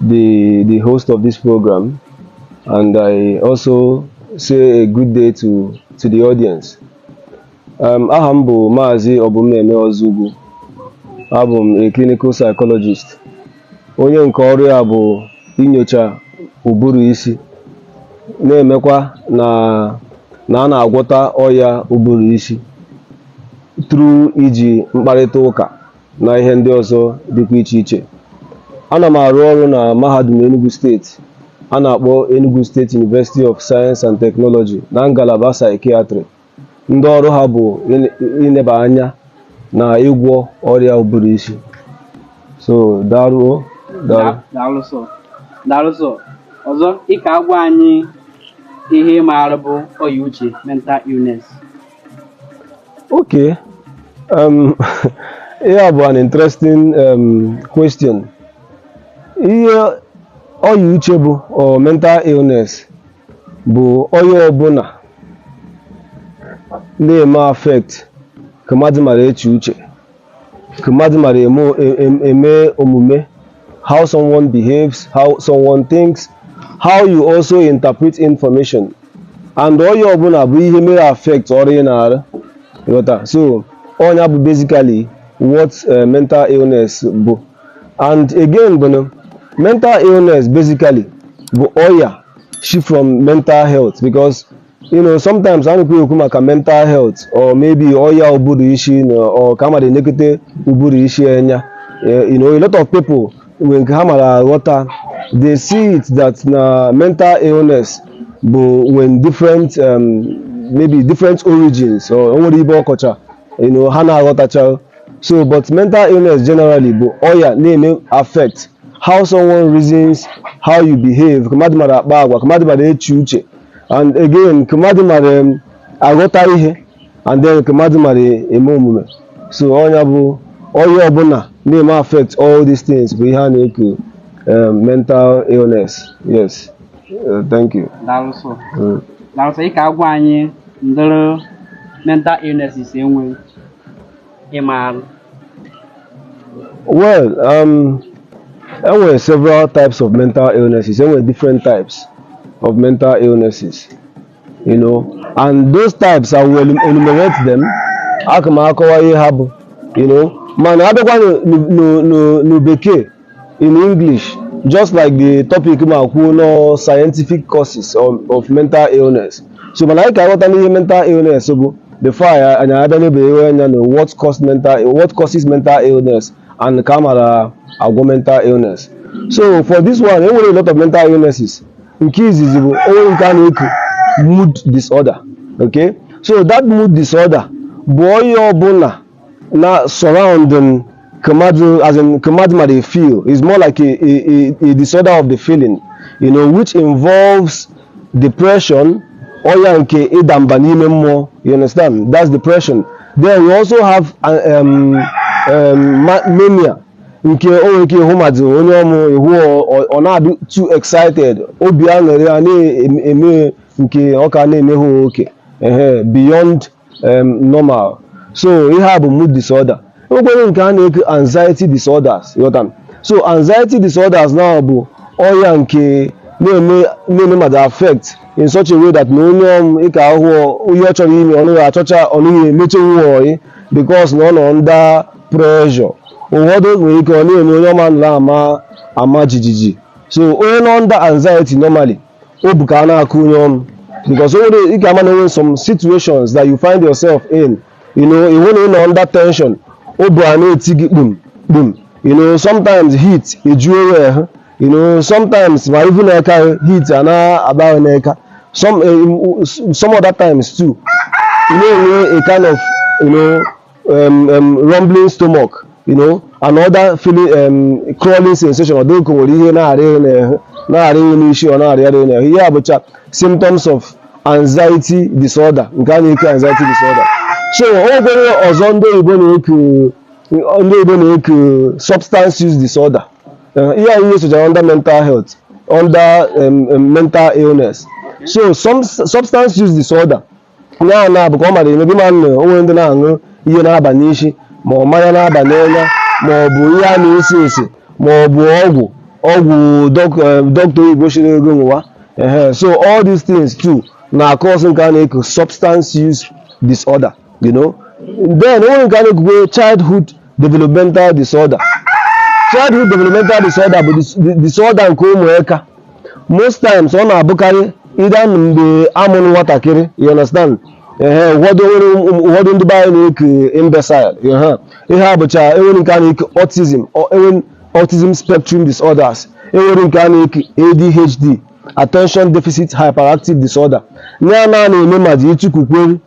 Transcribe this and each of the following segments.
the, the host of this program, and I also say a good day to, to the audience. Um, aha m bụ Maazị Obumneme Ozugwu. Abụ m a clinical psychologist. Onye nke ọrụ ya bụ inyocha ụbụrụ isi, na-emekwa na na a na-agwọta ọya ụbụrụ isi through iji mkparịta ụka na ihe ndị ọzọ dịkwa iche iche ana m arụ ọrụ na mahadum Enugu steeti a na-akpọ Enugu State University of Science and Technology na ngalaba psychiatry ndị ọrụ ha bụ ineba anya na ịgwọ ọrịa ụbụrụ isi so daalụ o daalụ sir ọzọ ị ka-agwa anyị ihe ị maara bụ ọya uche mental illness Okay. Um, ihe a bụ an interesting um, question. Ihe ọya uche bụ or mental illness bụ ọya ọbụla na-eme affect ka mmadụ mara eche uche. ka mmadụ mara eme o- e- em- eme omume how someone behaves how someone thinks how you also interpret information and ọya ọbụla bụ ihe mere affect ọrụ ị na-arụ ị ghọta so ọ nya bụ basically what eh, mental illness bụ and again bụ na mental illness basically bụ ọya shi from mental health because you know sometimes a na-ekwu ekwu maka mental health or maybe ọya ụbụrụ isi you know, or ka mmadụ elekọta ụbụrụ isi anya Eh, you know a lot of people nwere ka ha mara aghọta they see it that na mental illness bụ when different um, maybe different origins or o nwere ibe ọkọcha you know ha na-aghọtacha so but mental illness generally bụ ọya na-eme affect how someone reasons how you behave ka mmadụ mara akpa agwa ka mmadụ mara eche uche and again ka mmadụ mara em, aghọta ihe and then ka mmadụ mara eme omume so ọ nya bụ ọya ọbụla na-eme affect all these things bụ ihe a na-eku em, mental illness yes Eh, thank you daalụ sir Mm. daalụ sir ị ka-agwa anyị ụdịrị mental illnesses e nwere ị maara well um, e nwere several types of mental illnesses e nwere different types of mental illnesses you know and those types i will enumerate them aka m akọwa ihe ha bụ you know mana a bịakwa n'u- n'u- n'u- n'u bekee in English, just like the topic ma kwuo no scientific causes of, of mental illness. So mana anyị ka aghọta n'ihe mental illness bụ before anyị anyị abịa nebewe anya na what cause mental what causes mental illness and ka a mara agwọ mental illness. So for this one, e nwere a lot of mental illnesses. Nke izizi bụ o nwere nke a na-eku mood disorder. Okay? So that mood disorder bụ ọya ọbụna Na surrounding ka mmadụ, as in ka mmadụ mara feel, is more like a, a, a, disorder of the feeling, you know, which involves depression, ọya nke ịda mba n'ime mmụọ, you understand? That's depression. Then we also have uh, um, um, mania, nke o nwere ike ịhụ mmadụ onye ọmụ ị hụ ọ na-adị too excited obi aṅụrị a na-eme nke ọ ka na-emehe oke beyond um, normal so ihe a bụ mood disorder enwekwere nke a na-eke anxiety disorders ghọta m so anxiety disorders na bụ ọya nke na-eme na-eme mmadụ affect in such a way that na onye ọm ị ka-ahụ ihe ọ chọrọ ime ọ naghị achọcha ọ naghị emecha nwa ọyị because na ọ nọ under pressure ụfọdụ nwere ike ọ na-eme onye ọm ahụ a na-ama jijiji so onye nọ under anxiety normally obu ka a na-akụ onye ọm because o nwere ị ga-ama na e nwere some situations that you find yourself in you know ị hụ na ị nọ under tension obu a na-eti gị kpum kpum you know sometimes heat ejuo onwe ha you know sometimes ma even n'eka heat a na-agba gị n'eka some eh, some other times too you na-enwe a kind of you know um, um, rumbling stomach you know another feeling um, crawling sensation ọ dịka o nwere ihe na-arị gị n'ahụ na-arị gị n'isi ọ na-arịgharị gị n'ahụ ihe a bụcha symptoms of anxiety disorder nke a na-eke anxiety disorder so o nwekwara ọzọ ndị oyibo na-eku ndị oyibo na-eku substance use disorder Eh, ihe anyị nyesochara under mental health under um, um, mental illness so some substance use disorder onye ahụ na-abụ ka ọ mara maybe ị ma na o nwere ndị na-aṅụ ihe na-aba n'isi ma ọ mmanya na-aba n'anya ma ọ bụ ihe a na-esi esi ma ọ bụ ọgwụ ọgwụ dọk- eh, dọkịta oyibo sịrị gị ṅụwa ehe so all these things too na-acause nke a na-eku substance use disorder you know then o nwere nke a na-ekukwe childhood developmental disorder childhood developmental disorder bụ dis- di- disorder nke ụmụaka most times ọ na-abụkarị either mgbe a mụrụ nwatakịrị you understand ehe ụfọdụ nwere ụm- ụfọdụ ndị be anyị na-eke imbecile ehe ihe a bụcha enwere nke a na-eke autism ọ- enwere autism spectrum disorders enwere nke a na-eke adhd attention deficit hyperactive disorder ya na na-eme ma ji ịchụkwukweri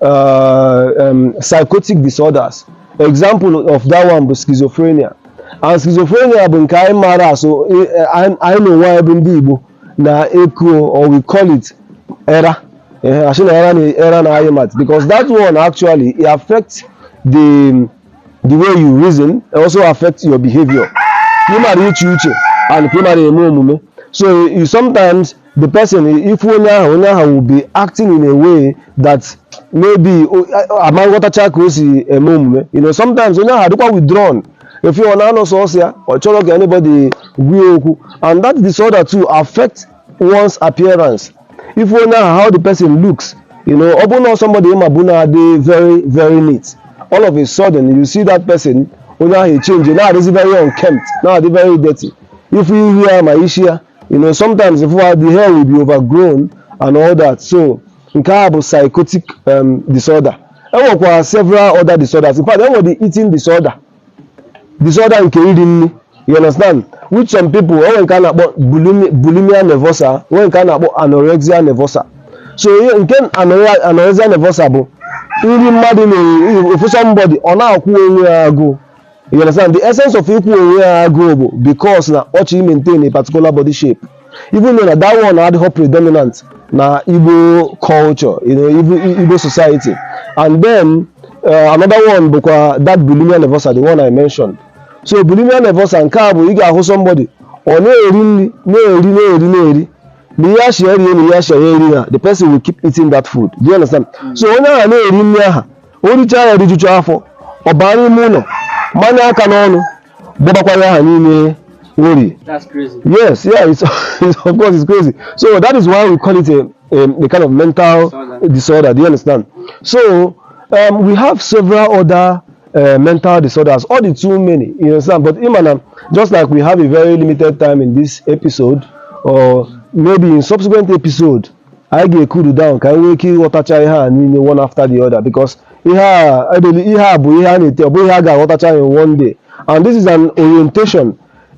uh, um, psychotic disorders example of that one bụ schizophrenia and schizophrenia bụ nke anyị maara as eh, eh, anyị anyị na onwe anyị bụ ndị Igbo na-eku or we call it era Eh, asị na era na era na-ayị mmadụ because that one actually it affects the the way you reason it also affects your behavior ka ị mara iche uche and ka ị mara eme omume so you sometimes the person ị fụ onye ahụ onye ahụ will be acting in a way that maybe o- a- a- ama nghọtacha ka o si eme omume you know sometimes onye ahụ adịkwa withdrawn ị fụ ọ na-anọ sọsọ ya ọ chọrọ ka anybody gwa ya okwu and that disorder too affect one's appearance ị fụ onye ahụ how the person looks you know ọ bụrụ na somebody ị mabu na-adị very very neat all of a sudden you see that person onye ahụ echenji na-adịzi very unkempt na-adị very dirty ị fụ ihu ya ma isi ya you know sometimes the hair will be overgrown and all that so nke a bụ psychotic um, disorder e nwekwara several other disorders in fact enwe the eating disorder disorder nke iri nri you understand which some people enwe nke a na-akpọ bulimia nervosa enwe nke a na-akpọ anorexia nervosa so nke anorexia nervosa bụ nri mmadụ na-eri ị fụ somebody ọ na-akwụ onwe ya agụụ You understand? The essence of ịkwụ onwe ya agụụ bụ because na ọ chọrọ maintain a particular body shape. Even though na that one adịghị predominant na Igbo culture, you know, Igbo, Igbo society. And then uh, another one bụkwa that bulimia nervosa, the one I mentioned. So bulimia nervosa nke a bụ ị ga-ahụ somebody ọ na-eri nri na-eri na-eri na-eri na ihe achị eri na ihe achị ya eri ha the person will keep eating that food. Do you understand? So onye ahụ na-eri nri ahụ o richaa ya rijucha afọ ọ baa n'ime ụlọ manye aka n'ọnụ gbọbakwara aha niile o rie That's crazy. Yes, yeah, it's, it's of course it's crazy. So that is why we call it a, a, a kind of mental Disorder. disorder. Do you understand? So um, we have several other uh, mental disorders. All the too many, you understand? But Imana, just like we have a very limited time in this episode, or maybe in subsequent episode, anyị ga-ecool down ka anyị nwee ike ịghọtacha ihe a niile one after the other because ihe a ebeli ihe a bụ ihe a na-ete ọ bụghị ihe a ga-aghọtacha in one day and this is an orientation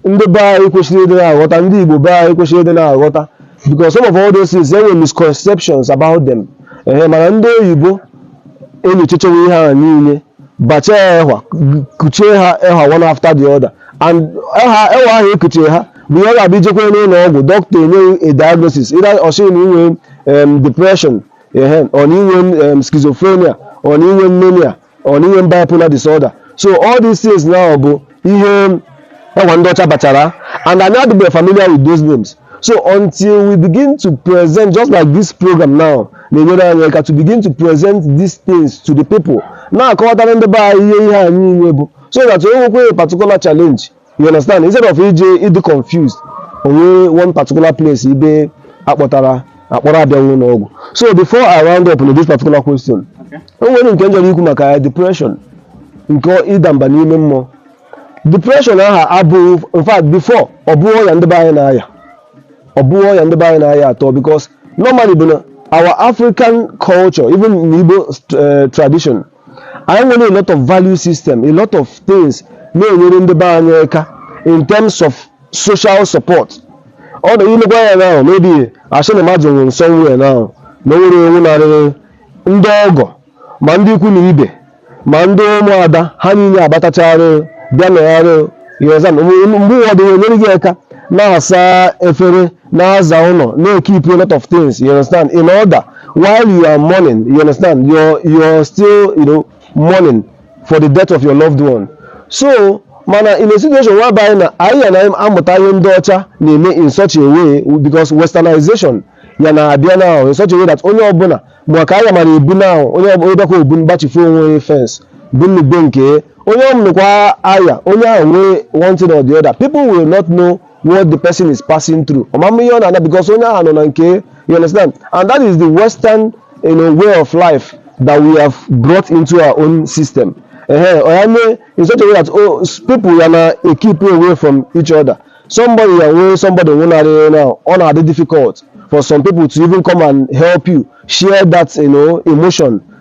ndị be anyị kwesịrị ịdị na-aghọta ndị Igbo be anyị kwesịrị ịdị na-aghọta because some of all those things there were misconceptions about them ehe mana ndị oyibo enyochachawo ihe a niile bachaa ya ehwa kuchie ha ehwa one after the other and ehwa ahụ e kuchie ha mgbe ọ ga-abụ i jekwa n'ụlọ ọgwụ dọkịta enye gị a diagnosis either ọ sị gị na i nwe em, depression ehe or na i nwe em, schizophrenia or na i nwe mania or na i nwe bipolar disorder so all these things now bụ ihe ehwa ndị ọcha bachara and anyị adịbeghị familiar with those names so until we begin to present just like this program now na-enyere anyị aka to begin to present these things to the people na-akọwatara ndị be anyị ihe ihe a niile bụ so that i nwekwa a particular challenge you understand instead of ije ịdị confused o nwee one particular place ibe akpọtara akpọrọ abịaghị ụlọ ọgwụ so before i round up on this particular question o nwere nke m chọrọ ikwu maka ya depression nke ịda mba n'ime mmụọ depression aha abụghị in fact before ọ bụghị ọya ndị be anyị na-aya ọ bụghị ọya ndị be anyị na-aya at all because normally bụ na our african culture even in Igbo eh, tradition anyị nwere a lot of value system a lot of things na-enyere ndị be anyị aka in terms of social support ọ na ị lekwa ya now maybe asị na mmadụ nwụrụ somewhere now na o nwere onye nwụnarịrị ndị ọgọ ma ndị ikwu na ibe ma ndị ụmụada ha niile agbatachara bịa nọgharị you understand mgbe ụfọdụ enyere gị aka na-asa efere na-aza ụlọ na-ekeep a lot of things you understand in order while you are mourning you understand you're, you're still you know mourning for the death of your loved one so mana in a situation whereby na anyị ya na-amụta ihe ndị ọcha na-eme in such a way because westernization ya na-abịa now in such a way that onye ọbụla ma ka anyị mara ebu now onye ọbụla onye bịakwa obu mgbachifu onwe onye fence bụ nnukwu nke onye ọmụnụkwa aya onye ahụ nwee one thing or the other people will not know what the person is passing through ọ mama ihe ọ na-ana because onye ahụ nọ na nke you understand and that is the western you know, way of life that we have brought into our own system ehe ọ ya mee in such a way that oh, s- people ya na-ekeep away from each other somebody ya nwee somebody nwụnarị now ọ na-adị difficult for some people to even come and help you share that you know, emotion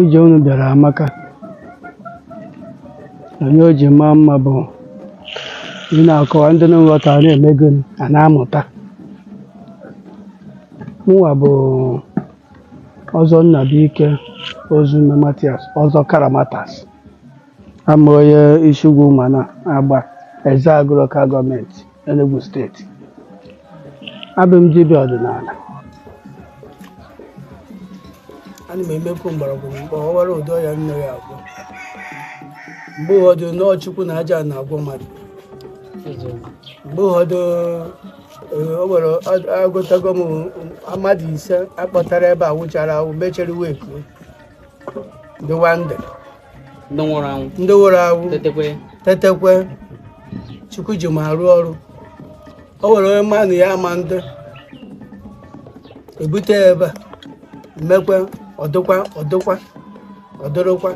ije unu bịara amaka onye o ji maa mma bụ ị na-akọwa ndị nghọta na-emego a na-amụta mụnwa bụ ọzọ Nnabuike Ozume Matias ọzọ Karamatas abụ m onye Isiugwu Umana Agba Ezeagụ Local Government Enugu State abụ m dibịa ọdịnala ana m emekwu mgbọrọgwụ mgbe ọ wara ụdị ọya nne ya agwọ mgbe ụfọdụ na ọ Chukwu na aja na-agwọ mmadụ mgbe ụfọdụ eh, o nwere ọ- agwọtago m mmadụ ise akpọtara ebe a nwụchara anwụ mechere wee kuo dịwa ndụ ndị nwụrụ anwụ ndị nwụrụ anwụ tetekwe tetekwe Chukwu ji m arụ ọrụ o nwere onye mmanụ ya ama ndị ebute ya ebe a mekwe ọdụkwa ọdụkwa ọdụrụkwa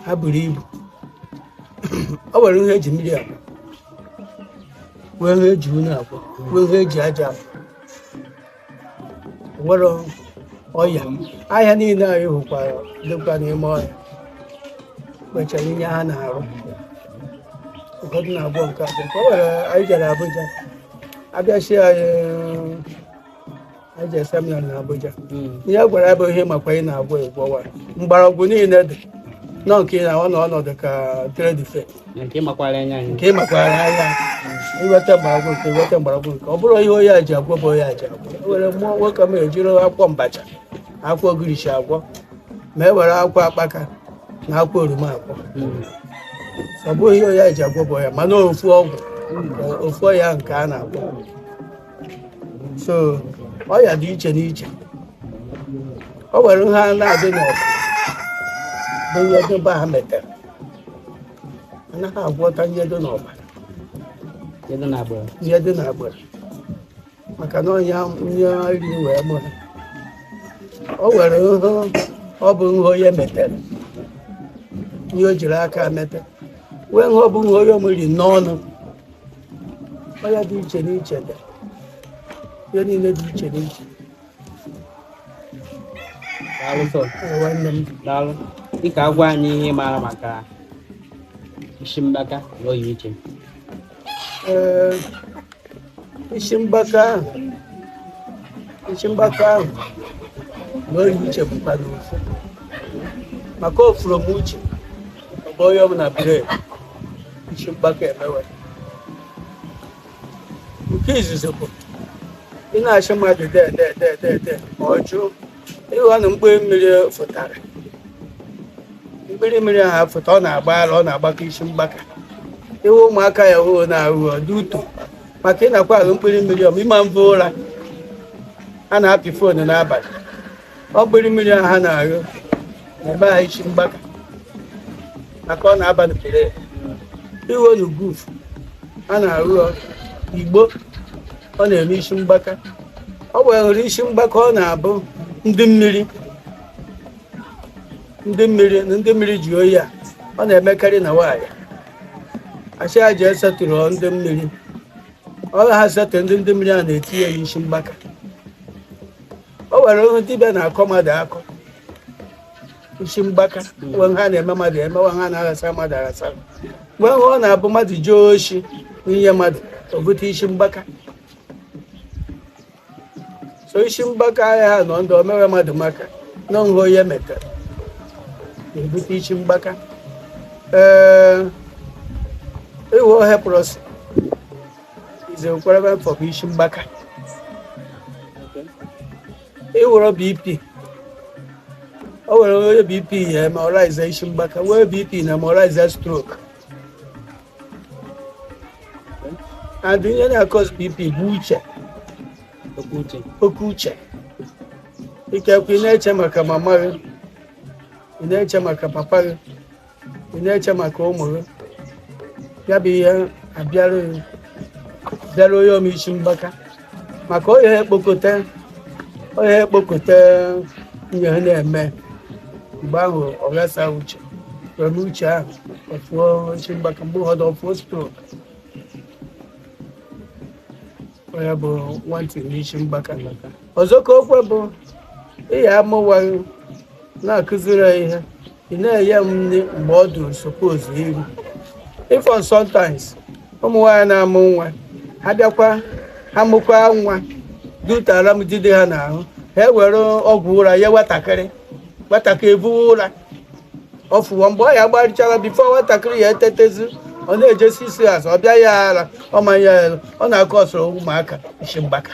ha buru ibu o nwere ihe eji mmiri akwa nwee ihe eji unu akwa nwee ihe eji aja akwa nwere ọya ahịhịa niile anyị hụkwara dịkwa n'ime ọhịa nwechara ihe ha na-arụ ụfọdụ na-abụ nke abụọ ka o nwere anyị jere Abuja abịachi anyị anyị jere seminar na Abuja ihe a gwara ya bụ ihe makwa ị na-agwọ ị gwọwa mgbọrọgwụ niile dị nọ nke ị na-ahụ na ọ na-adị ka trade fair nke ịmakwara anya anyị nke ịmakwara anya iweta mgbọrọgwụ nke ọ bụrụ ihe onye a ji agwọ bụ onye a ji agwọ e were mmụọ nwoke m ejiri akwụkwọ mbacha akwụkwọ ogirishi agwọ ma e were akwụkwọ akpaka na akwụkwọ oroma agwọ hmm. ọ bụghị ihe onye a ji agwọ bụ onye mana ofu ọgwụ ofu ọya nke a na-agwọ so ọya dị iche n'iche o nwere nha na-adị n'ọbara bụ ihe ndị be ha metere anaghị agwọta ihe dị n'ọbara ihe dị n'agbara maka na ọ ya e jiri wee mụ ha o nwere nhụ ọ bụ nhụ onye metere ihe o jiri aka mete nwee nhụ ọ bụ nhụ onye omeri n'ọnụ ọya dị iche n'iche dị ihe niile dị iche n'iche daalụ dịka agwa anyị ihe ị maara maka isi mgbaka na oyi iche isi mgbaka isi mgbaka ahụ na oyi uche bụkwanụ ofu maka ofuru m uche ọ bụ onye ọbụla bụrụ isi mgbaka emewe nke izizi bụ ị na-asị mmadụ de de de de de ma ọ jụ ị hụ na mkpụrụ mmiri fụtara mkpụrụ mmiri ahụ fụta ọ na-agba ala ọ na-agbaka isi mgbaka even ụmụaka ya hụ na-aṅụ ọ dị ụtọ maka ị na-akwa aṅụ mkpụrụ mmiri ọ ịma mbụ ụra a na-apị foonu n'abalị mkpụrụ mmiri ahụ ha na-aṅụ na-eme ha isi mgbaka maka ọ na-aba n'ụbụrụ ya even guf a na-aṅụ ọ igbo ọ na-eme isi mgbaka o nwere isi mgbaka ọ na-abụ ndị mmiri ndị mmiri na ndị mmiri ji onye a ọ na-emekarị na nwaanyị a sị ha jee settle ndị mmiri ọ ha settle ndị ndị mmiri a na-etinye ya isi mgbaka o nwere ihe dibịa na-akọ mmadụ akọ isi mgbaka nwee nha a na-eme mmadụ eme nwee nha a na-aghasa mmadụ aghasa nwee nha ọ na-abụ mmadụ jee oshi ihe mmadụ o bute isi mgbaka so isi mgbaka ahịa ha nọ ndụ omewe mmadụ maka na ọ nha onye metara na-ebute isi mgbaka ee even leprosy Nze kwerebe mfọ bụ isi mgbaka. Ịwụrụ BP. O nwere onye BP ya eme ọ raiza isi mgbaka, nwee BP na-eme ọ raiza stroke. And ihe na-akọs BP bụ uche, Oke uche. oke uche. Ikekwe ị na-eche maka mama gị, ị na-eche maka papa gị, ị na-eche maka ụmụ gị ya bụ ihe abịara bịara onye o me isi mgbaka maka onye ekpokọta onye ekpokọta ihe ha na-eme mgbe ahụ ọ ghasa uche were uche ahụ ọ fụọ isi mgbaka mgbe ụfọdụ ọ fụọ stroke onye bụ nwantị n'isi mgbaka ọzọ ka okwe bụ ị ya amụ nwa ị na-akụziri ya ihe ị na-enye ya nri mgbe ọ dụrụ suppose iri even sometimes ụmụ nwaanyị na-amụ nwa ha bịakwa ha mụkwa nwa dutara m jide ha n'ahụ ha ewere ọgwụ ụra nye nwatakịrị nwatakịrị ebuwe ụra ọ fụwa ebe ọ ya gbarịchara before nwatakịrị ya etetezi ọ na-eje six hours ọ bịa ya ara ọ ma enye ya ọ na-akọsụrụ ụmụaka isi mgbaka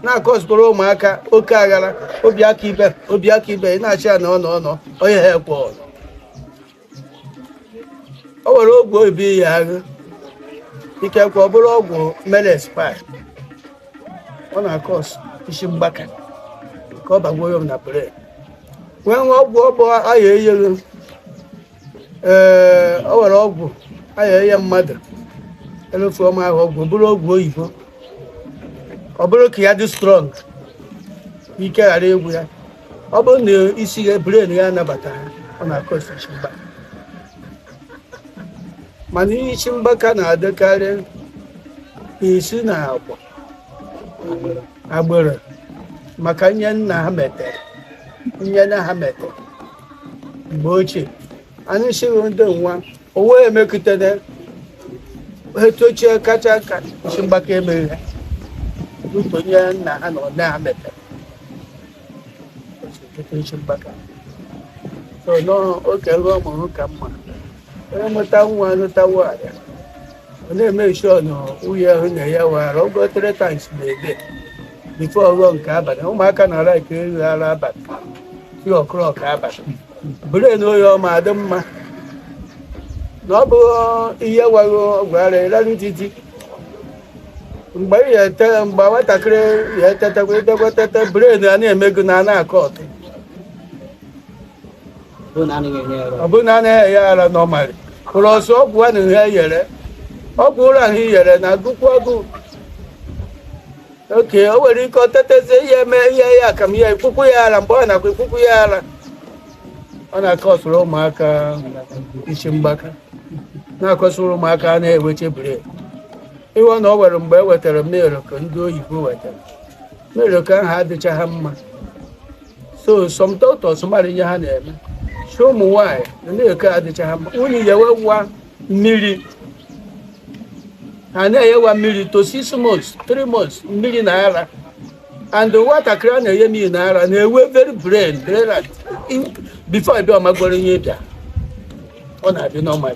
na-akọsịkwara ụmụaka oke aghara obi aka ibe obi aka ibe ị na-achị ya na ọ nọ ọ nọ onye ha ekwe ọnụ. o nwere ọgwụ ị bịa aṅụ ikekwe ọ bụrụ ọgwụ mere expire ọ na-akọs isi mgbaka ka ọ bagoo ya na brain nwee nwee ọgwụ ọ bụ a ya enyelu ee o nwere ọgwụ a ya-enye mmadụ elufu ọma ahụ ọgwụ ọ bụrụ ọgwụ oyibo ọ bụrụ ka ya dị strong ike ghara egwu ya ọ bụrụ na isi ya brain ya anabata ha ọ na-akọs isi mgbaka mana ihe isi mgbaka na-adịkarị esi na agwa agbụrụ maka ihe nna ha metere ihe nna ha metere mgbe ochie anyị sịghị ndị nwa o wee emekụtana etu ochie kacha ka isi mgbaka emeghị ya n'ụtọ onye nna ha nọ na amete isi mgbaka so n'oge ruo ọ mụrụ ka mma onye mụta nwa lụta nwaanyị ọ na-eme sure na nwunye ahụ na-enye nwa ara ogo three times in a day before ọ ghọọ nke abalị ụmụaka na-arakarị ara abalị three o'clock abalị brain ya ọ ma adị mma na ọ bụ ị nye nwa gị ọgwụ ụra ị rarụ titi mgbe ị ya ete mgbe nwatakịrị ya etetekwa etekwa tete brain a na-emego na a na-akọ ọtụ ọ bụrụ na anaghị enye ya ọ bụrụ na anaghị enye ya ara nọmalị ụlọ ọsọ ọgwụ a na ihe yere ọgwụ ụra ahụ yere na agụkwu ọgụ oke o nwere ike ọ tetezie ihe eme ihe ya ka m ya ekwukwu ya ara mgbe ọ nakwa ekwukwu ya ara ọ na-akọsụrụ ụmụaka isi mgbaka na-akọsụrụ ụmụaka a na-eweche brain ịghọ na ọ nwere mgbe e wetara milk ndị oyibo wetara milk ahụ adịcha ha mma so some doctors mara ihe ha na-eme sị ụmụ nwaanyị na milk adịcha ha mma unu yewe nwa mmiri ha na-eyewa mmiri to six months three months mmiri na ara and nwatakịrị a na-enye mmiri na ara na-ewe very brain very bright. In- before ebe ọ magoro ihe bịa ọ na-adị normal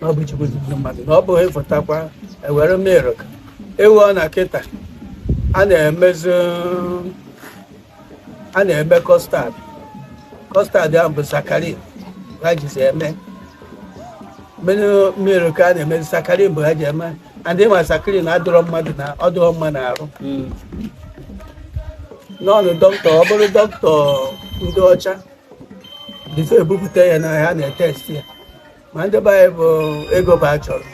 na ọ bụ chukwu zipụrụ mmadụ na ọ bụghị ịfụtakwa ewere milk ewu ọ na kịta a na-emezi a na-eme kọstad kọstad ahụ bụ sakarin ha jizi eme mmenụ milk a na-emezi sakarin bụ ha ji eme and ịma sakarin adịrọ mmadụ na ọ dịrọ mma n'arụ n'ọnụ dọkịta ọ bụrụ dọkịta ndị ọcha bifo ebupụta ya n'ahịa a na-etest ya ma ndị be anyị bụ ego bụ a chọrọ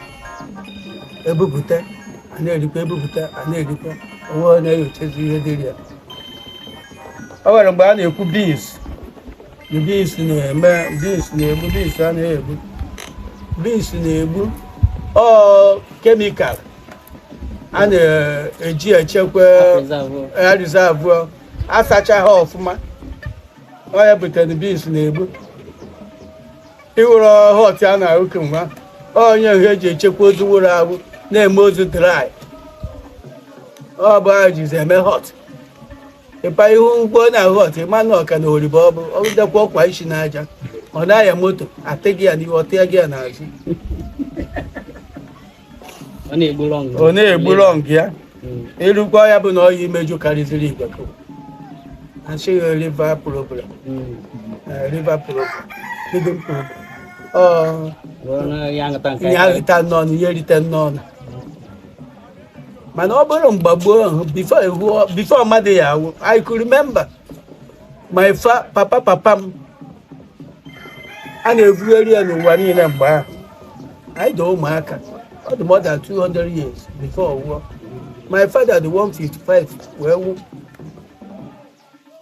ebupụta a na-erikwa ebupụta a na-erikwa onwe ọ na-enyochazi ihe dịrị ya o nwere mgbe a na-ekwu bins na bins na-eme bins na-egbu bins a na-egbu bins na-egbu ọ kemikal a na-eji echekwa ya rizavụ asacha ha ọfụma ọ ya butere bins na-egbu ịwụrụ hot a na-aṅụ kemgbe onye ihe eji echekwa ozu wụrụ awụ na-eme ozu dry ọ bụ ha jizi eme hot ịpa ihu ụgbọ na hot ịma na ọka na oribo ọ bụ ọ dịkwa ọkwa isi n'aja ọ na-aya moto atịghị ya n'ihu ọtịa gị ya n'azụ ọ na-egbu lọng ọ na-egbu lọng ya ịrụkwa hmm. ya bụ na ọya imeju karịziri igwe a sị gị liver problem liver problem kidney problem ihe aṅụta n'ọnụ ihe erite n'ọnụ mana ọ bụrụ mgbe gboo ahụ bifo mmadụ ya awụ I could remember my fa papa papa m a na-ebugharị ya n'ụwa niile mgbe ahụ anyị dị ụmụaka ọ dị more than 200 years before ọ nwụọ my father dị 155 wee nwụọ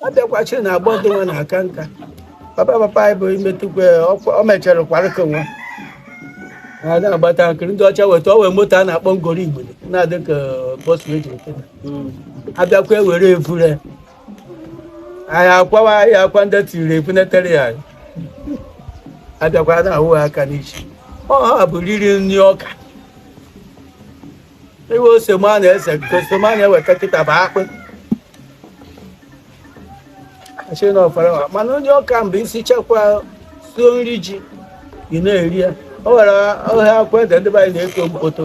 abịakwachiri na agbọ dị nwa na-aka nka papa papa anyị bụ imetụkwa ọ mechara kwarịka nwa ha na-agbata nkiri ndị ọcha weta ọ wee moto a na-akpọ gwongworo igbo na-adị ka bọs redio ha bịakwa ewere evure anyị akwawa anyị akwa ndị tiri ekwunetere ya abịakwa na-ahụ aka n'isi ọ ha bụ riri nri ọka iwe ose ma na-ese ose ma na-eweta kịta bụ akpụ achị na ọfara mana onye ọka mgbe isi chekwa suo nri ji ị na-eri ya o nwere ọhịa akwụ ede ndị be anyị na-eto mkpoto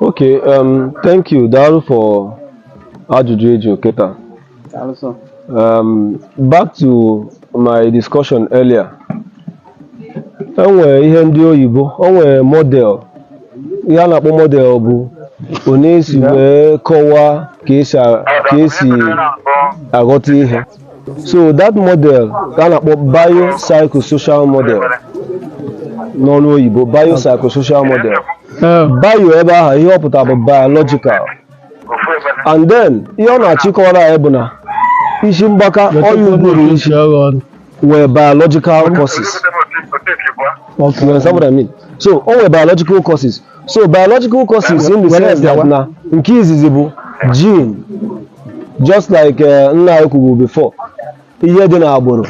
Okay, um, thank you. Daalụ for ajụjụ ị jụrụ kịta. Also. Um, back to my discussion earlier. E nwere ihe ndị oyibo, o nwere model. Ihe a na-akpọ model bụ onye esi wee kọwaa ka esi a- ka esi aghọta ihe. so that model ka a na-akpọ biopsychosocial model n'ọnụ oyibo biopsychosocial model Eh, bio ebe ahụ ihe ọ pụtara bụ biological and then ihe ọ na-achọ ịkọwara anyị bụ na isi mgbaka ọya ụbụrụ isi isi agha ọnụ. nwere biological causes Okay. You understand what I mean? So, o nwere biological causes so biological causes in the Were sense that bịawa. na nke izizi bụ gene just like eh, nna anyị kwuru before ihe dị n'agbụrụ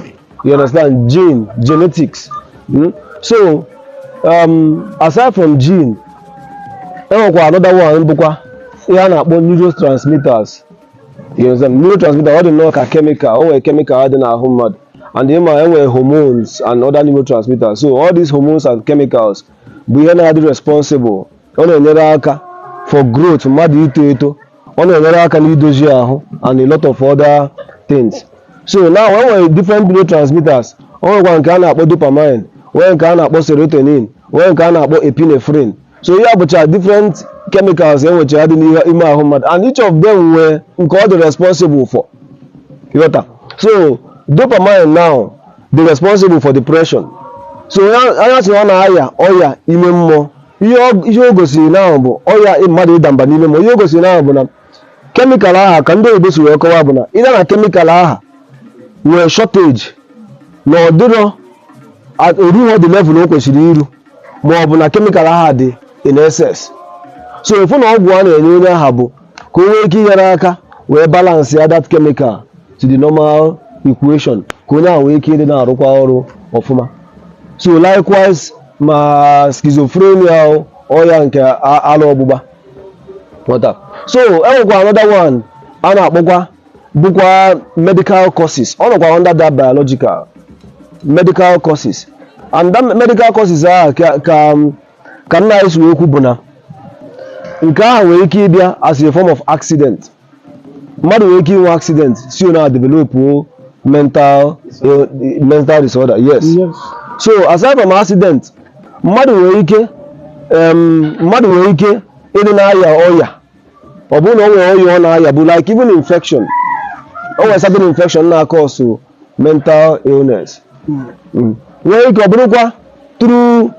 you understand gene genetics mm? so um, aside from gene enwekwa another one bụkwa ihe a na-akpọ neurotransmitters you understand neurotransmitter ọ dị nnọọ ka chemical o nwere chemical dị n'ahụ mmadụ and ịma enwere hormones and other neurotransmitters so all these hormones and chemicals bụ ihe na-adị responsible ọ na-enyere aka for growth mmadụ ito eto ọ na-enyere aka n'idozi ahụ and a lot of other things so now e nwere different neurotransmitters o nwekwa nke a na-akpọ dopamine nwee nke a na-akpọ serotonin nwee nke a na-akpọ epinephrine so ihe a bụcha different chemicals e nwecha dị n'ime ahụ mmadụ and each of them nwee nke ọ dị responsible for ị ghọta so dopamine now dị responsible for depression so onye a sị ọ na-aya ọya ime mmụọ ihe o gosiri now bụ ọya mmadụ ịda mba n'ime mmụọ ihe o gosiri now bụ na chemical aha ka ndị oyibo si wee kọwa bụ na ịda na chemical aha nwere shortage na ọ dịrọ erughị the level o kwesịrị iru ma ọ bụ na chemical aha dị in excess so ị fụ na ọgwụ a na-enye onye aha bụ ka o nwee ike inyere aka wee balance ya that chemical to the normal equation ka onye ahụ nwee ike ịdị na-arụkwa ọrụ ọfụma so likewise ma schizophrenia ọya nke ala ọgbụgba ị ghọta so enwekwa another one a na-akpọkwa bụkwa medical causes ọ nọkwa under that biological medical causes and that medical causes ahụ ka ka nna anyị si wee kwu bụ na nke ahụ nwere ike ịbịa as a form of accident mmadụ nwere ike inwe accident si na developuo mental eh, mental disorder yes Yes. so aside from accident mmadụ nwere ike em, mmadụ nwere ike ịdị na-aya ọya ọ bụrụ na o nwere ọya ọ na-aya bụ like even infection o nwere certain infection na-acause mental illness Mm. nwere ike ọ bụrụkwa through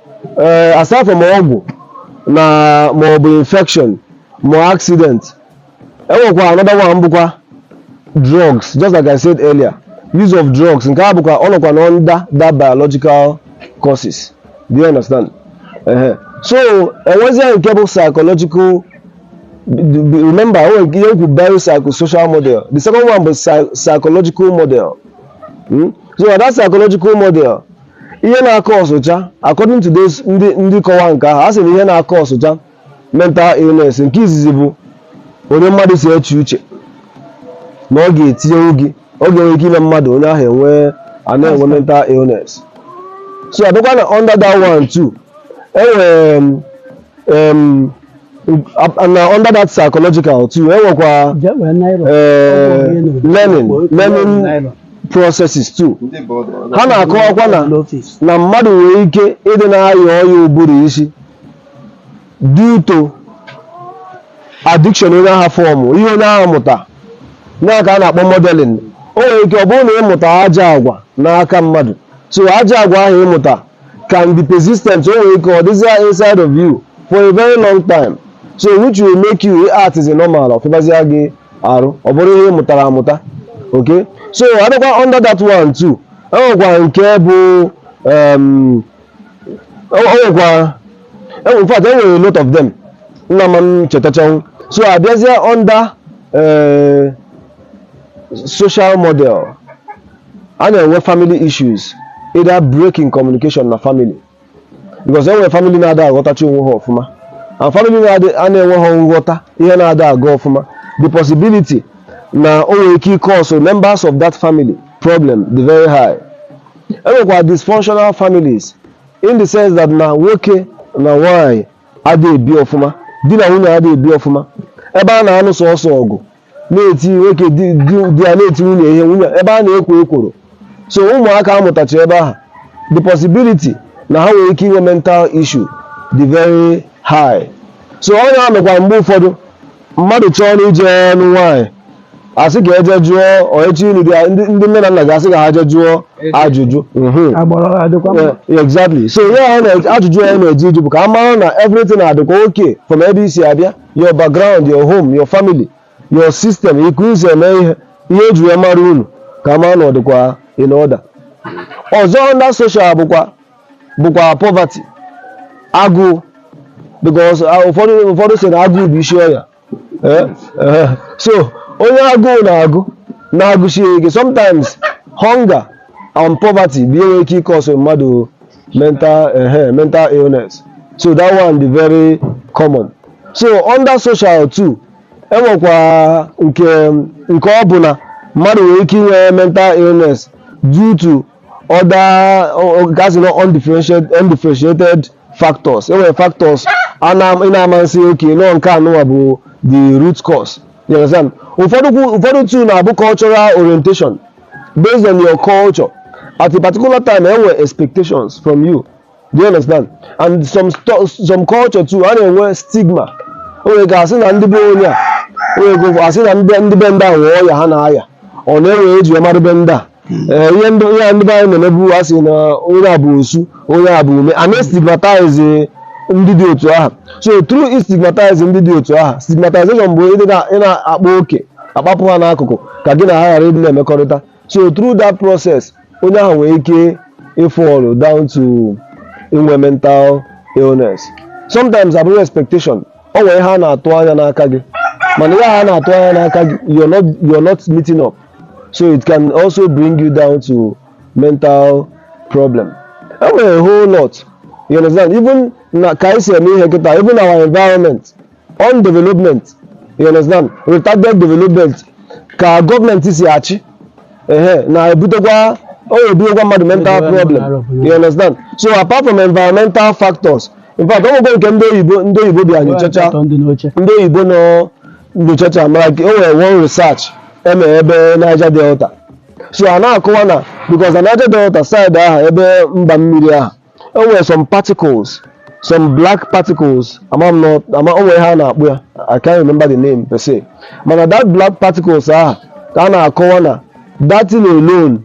aside from ọgwụ na ma ọ bụ infection ma accident enwekwa another one bụkwa drugs just like I said earlier use of drugs nke a bụkwa ọ nọkwa na under that biological causes do you understand ehe so enwezie nke bụ psychological remember o nwere ihe m kwu biopsychosocial model the second one bụ psy- psychological model Hmm? so na that psychological model ihe na-acausecha according to those ndị ndị kọwa nke ahụ a sị na ihe na-acausecha mental illness nke izizi bụ onye mmadụ si eche uche na ọ ga-etinyenwu gị ọ ga-enwe ike ime mmadụ onye ahụ enwee a na-enwe mental illness so abịakwa na under that one too enwere m em, ab- na under that psychological too enwekwa eh, learning learning processes too ndị ụfọdụ ha na-akọwakwa na na mmadụ nwere ike ịdị na-aya ọya ụbụrụ isi due to addiction onye ahụ formụ ihe onye ahụ mụta ya ka a na-akpọ modeling o nwere ike ọ bụrụ na ị mụta ajọ agwa n'aka mmadụ so ajọ agwa ahụ ị mụta can be persistent o nwere ike ọ dịzia inside of you for a very long time so which will make you act as a normal ọ fịbazia gị arụ ọ bụrụ ihe ị mụtara amụta okay so adịkwa under that one too enwekwa nke bụ um, o nwekwa in fact enwere a lot of them m na-ama chetachanwụ so abịazie under eh, social model a na-enwe family issues either break in communication na family because enwere family na-ada aghọtacha onwe ha ọfụma and family na-adị a na-enweha nghọta ihe na-ada aga ọfụma the possibility na o nwere ike ịcause members of that family problem dị very high e nwekwa dysfunctional families in the sense that na nwoke na nwaanyị adịghị ebi ọfụma di na nwunye adịghị ebi ọfụma ebe a na-anụ sọsọ ọgụ na-eti nwoke di di- di ya na-eti nwunye ihe nwunye ebe a na-ekwo ekworo so ụmụaka a mụtacha ebe ahụ the possibility na ha nwere ike inwe mental issue dị very high so ọ na-anọkwa mgbe ụfọdụ mmadụ chọọ na ije ịnụ nwaanyị asị ka eje jụọ oechi ilu bịa ndị ndị nne na nna gị asị ka ha je jụọ ajụjụ Mhm. agbụrụ ha dịkwa mma Yeah, exactly so ihe a na- ajụjụ anyị na-eje ịjụ bụ ka a mara na everything adịkwa okay from ebe i si abịa your background your home your family your system etu i si eme ihe ihe eji wee mara unu ka a mara na ọ dịkwa in order ọzọ under social bụkwa bụkwa poverty agụụ because ah, ụfọdụ ụfọdụ sị na agụụ bụ isi ọya Eh, eh. so onye agụụ na-agụ na-agụsie ike sometimes hunger and poverty bụ ihe nwere ike ịcause mmadụ mental eh, mental illness so that one bụ very common so under social too enwekwa nke nke ọ bụ na mmadụ nwere ike inwe mental illness due to other nke a sị na undifferentiated undifferentiated factors enwere factors a na ị na-ama asị okay na ọ nke anụnwa bụ the root cause you understand ụfọdụ kwu- ụfọdụ too na-abụ cultural orientation based on your culture at a particular time enwe expectations from you Do you understand? And some sto- some culture too, a na-enwe stigma. O nwere ka asị na ndị be onye a, o nwere ka asị na ndị ndị be ndị a nwee ọya ha na-aya. Ọ na-enwe ihe eji amara be ndị a. Ee, ihe ndị ihe a ndị be anyị na-emebu a sị na onye a bụ osu, onye a bụ ume. A na-estigmatize ndị dị otu ahụ. So through istigmatize ndị dị otu ahụ, stigmatization bụ ịdị na- ị na-akpa oke, akpapụ ha n'akụkụ ka gị na ha ghara ịdị na-emekọrịta. So through that process, onye ahụ nwere ike ịfall down to inwe mental illness sometimes abụrụ expectation o nwere ihe a na-atụ anya n'aka gị mana ihe a na-atụ anya n'aka gị you're not you're not meeting up so it can also bring you down to mental problem e nwere a whole lot you understand even na ka anyị si eme ihe kịta even our environment on development you understand retarded development ka gọọmenti si achị ehe na-ebutekwa ọ na-ebunyekwa mmadụ mental problem you understand so apart from environmental factors in fact o nwekwa nke ndị oyibo ndị oyibo bịa nyochacha Atọ ndị ọcha ndị oyibo nọ nyochacha ma like o nwere one research emere ebe Niger Delta so a na-akọwa na because na Niger Delta side ahụ ebe mba mmiri ahụ o nwere some particles some black particles ama m na ama o nwere ihe a na-akpọ ya I can't remember the name per se mana that black particles ahụ ka a na-akọwa na that thing alone